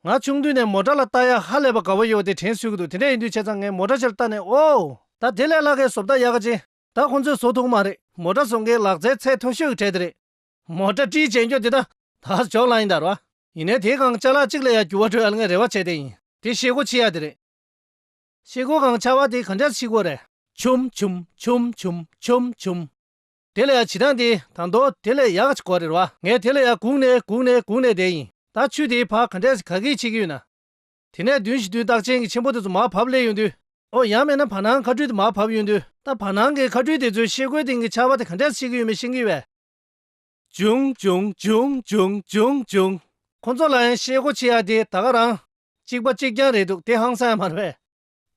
ང་ཆུང་དུས་ནས་མོ་སྐྲ་ལ་བལྟ་ཡ་ཧ་ལས་པ་དགའ་བོ་ཡོད་དེ་དྲན་སུས་ཀྱི་འདུག་དེ་འདྲས་ཡིན་དུས་བྱས་ཙང་ངས་མོ་སྐྲ་ཕྱིར་བལྟ་ནས་ཨོའོ། ད་དེ་ལས་ལྷག་གའི་བཟོ་བལྟ་ཡག་ག་ཅི། ད་ཁོང་ཚོས་བཟོ་ཐུག་མ་རེད། མོ་སྐྲ་བཟོ་མཁན་ལག་རྩལ་ཚད་མཐོ་ཤོས་ཀྱི་གྲས་དེ་རེད། མོ་སྐྲ་བཀྲིས་བྱེད་འགྱོ་དེ་དག་ད་ཇོག་ལ་ཡིན་དར་བ། ཡིན་ནའི་དེའི་གང་ཅག་ལག་གཅིག་ལ་ཡང་འགྱུར་བ་འགྲོ་ཡ་ལྔའི་རེ་བ་བྱས་དེ་ཡིན། དེ་ཤེལ་སྒོ་ཕྱི་ཡ་དེ་རེད། ཤེལ་སྒོ་གང་ཆགས་བ་དེ་གང་ཅག་ཕྱི་སྒོ་རེད། ཆུམ་ཆུམ་ཆུམ་ཆུམ་ཆུམ་ཆུམ། དེ་ལ་ཡང་བྱི་ཐང་དེ་དང་མདོ་དེ་ལས་ཡག་གཅིག་གོ་རེད་བ། ངས་དེ་ལ་ཡང་གུག་ནས་གུག་ནས་གུག་ནས་བསྡད་ཡིན། ད་ཆུ་དེའི་བར་ག་འདྲས་ག་གིས་ཕྱེ་གི་ཡོད་ན། དེ་ནས་བདུན་བཞི་བདུན་རྟགས་ཅན་གྱི་ཆེན་པོ་དེ་ཚོ་མར་བབས་སླེ་ཡོད་དུས། ཨོ་ཡང་མེད་ན་བར་སྣང་མཁའ་སྤྲུལ་དེ་མར་བབས་ཡོད་དུས། ད་བར་སྣང་གི་མཁའ་སྤྲུལ་དེ་ཚོའི་ཤེལ་སྒོའི་སྟེང་གི་ཆར་བ་དེ་ག་འདྲས་ཕྱེ་གི་ཡོད་མེད་ཤེས་ཀྱི་བས། ཅུང་ཅུང་ཅུང་ཅུང་ཅུང་ཅུང། ཁོ་ཚོ་ལ་ཡང་ཤེལ་སྒོ་ཕྱེ་ཡག་དེ་ད་ག་རང། གཅིག་པ་གཅིག་རྐྱང་རེད་འདུག་དེ་ཧང་སངས་ཡང་མ་རེད་བས།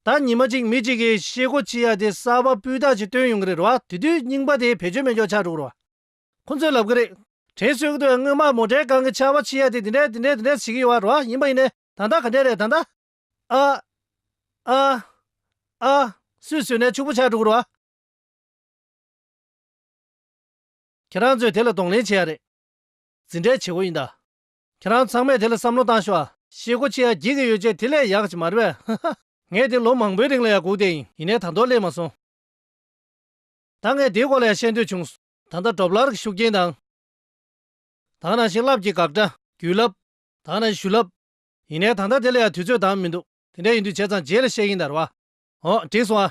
ད་ཉི་མ་གཅིག་མི་གཅིག་གིས་ཤེས་སྒོ་ཅི་ཡག་དེ་གསར་པ་སྤུས་དག་ཅིག་བཏོན་ཡོང་གི་རེད་རེད་བ། དེ་དུས་རྙིང་པ་དེ་བེད་སྤྱོད་མེད་འཇོག་ཆགས་འགྲོ་གི་རེད་བ། ཁོ་ཚོས་ལབ་གི་རེད། དྲན་གསོའི་གི་དུས་སྔོན་མ་མོ་འདྲེ་གང་གི་ཆར་བ་ཆི་ཡག་དེ་དེ་འདྲས་དེ་འདྲས་དེ་འདྲས་བྱེད་གི་ཡོད་བ་རེད་བ་ཡིན་པ་ཡིན་ནས་ད་ལྟ་ག་འདྲས་རེད་ད་ལྟ། ཨ། ཨ། ཨ། སུས་ཟོས་ནས་ཕྱུག་པོ་ཆགས་འགྲོ་གི་རེད་བ། ཁྱེད་རང་ཚོས་དེ་ལ་གདོང་ལེན་བྱེད་ཡག་རེད། ཛི་འདྲས་བྱེད་སྒོ་ཡིན་ད། ཁྱེད་རང་ཚང་མས་དེ་ལ་བསམ་བློ་བཏང་ཤི་བ། ཤེས་གོ་ཆེ་ཡ་གྱིས་གི་ཡོད་ཆེ་དེ་ལས་ཡག་ཅིག་མ་རེད་བས་ཧ་ཧ། ངས་དེ་ལོ་མང་པོའི་རིང་ལ་ཡང་སྒུག་བསྡད་ཡིན་ཡིན་ནས་ད་དོག་སླེབས་མ་སོང། ད་ངས་དེའི་སྐོར་ལ་ཡང་བཤད་འདོད་བྱུང། ད་ལྟ་སྒྲོབ་ལར་གྱི་ཤུགས་རྐྱེན་དང། དང་ནང་བཞིན་རླབས་ཀྱི་དགག་སྒྲ། བརྒྱུད་རླབས། དང་ནང་བཞིན་ཞུ་རླབས། ཡིན་ནས་ད་ལྟ་དེ་ལ་ཡང་དུས་ཚོད་དང་མི་འདུག་དེ་འདྲ་ཡིན་དུས་བྱས་ཙང་རྗེས་ལ་བཤད་ཡིན་དར་བ། འོ་འགྲིག་སོང་ཨ།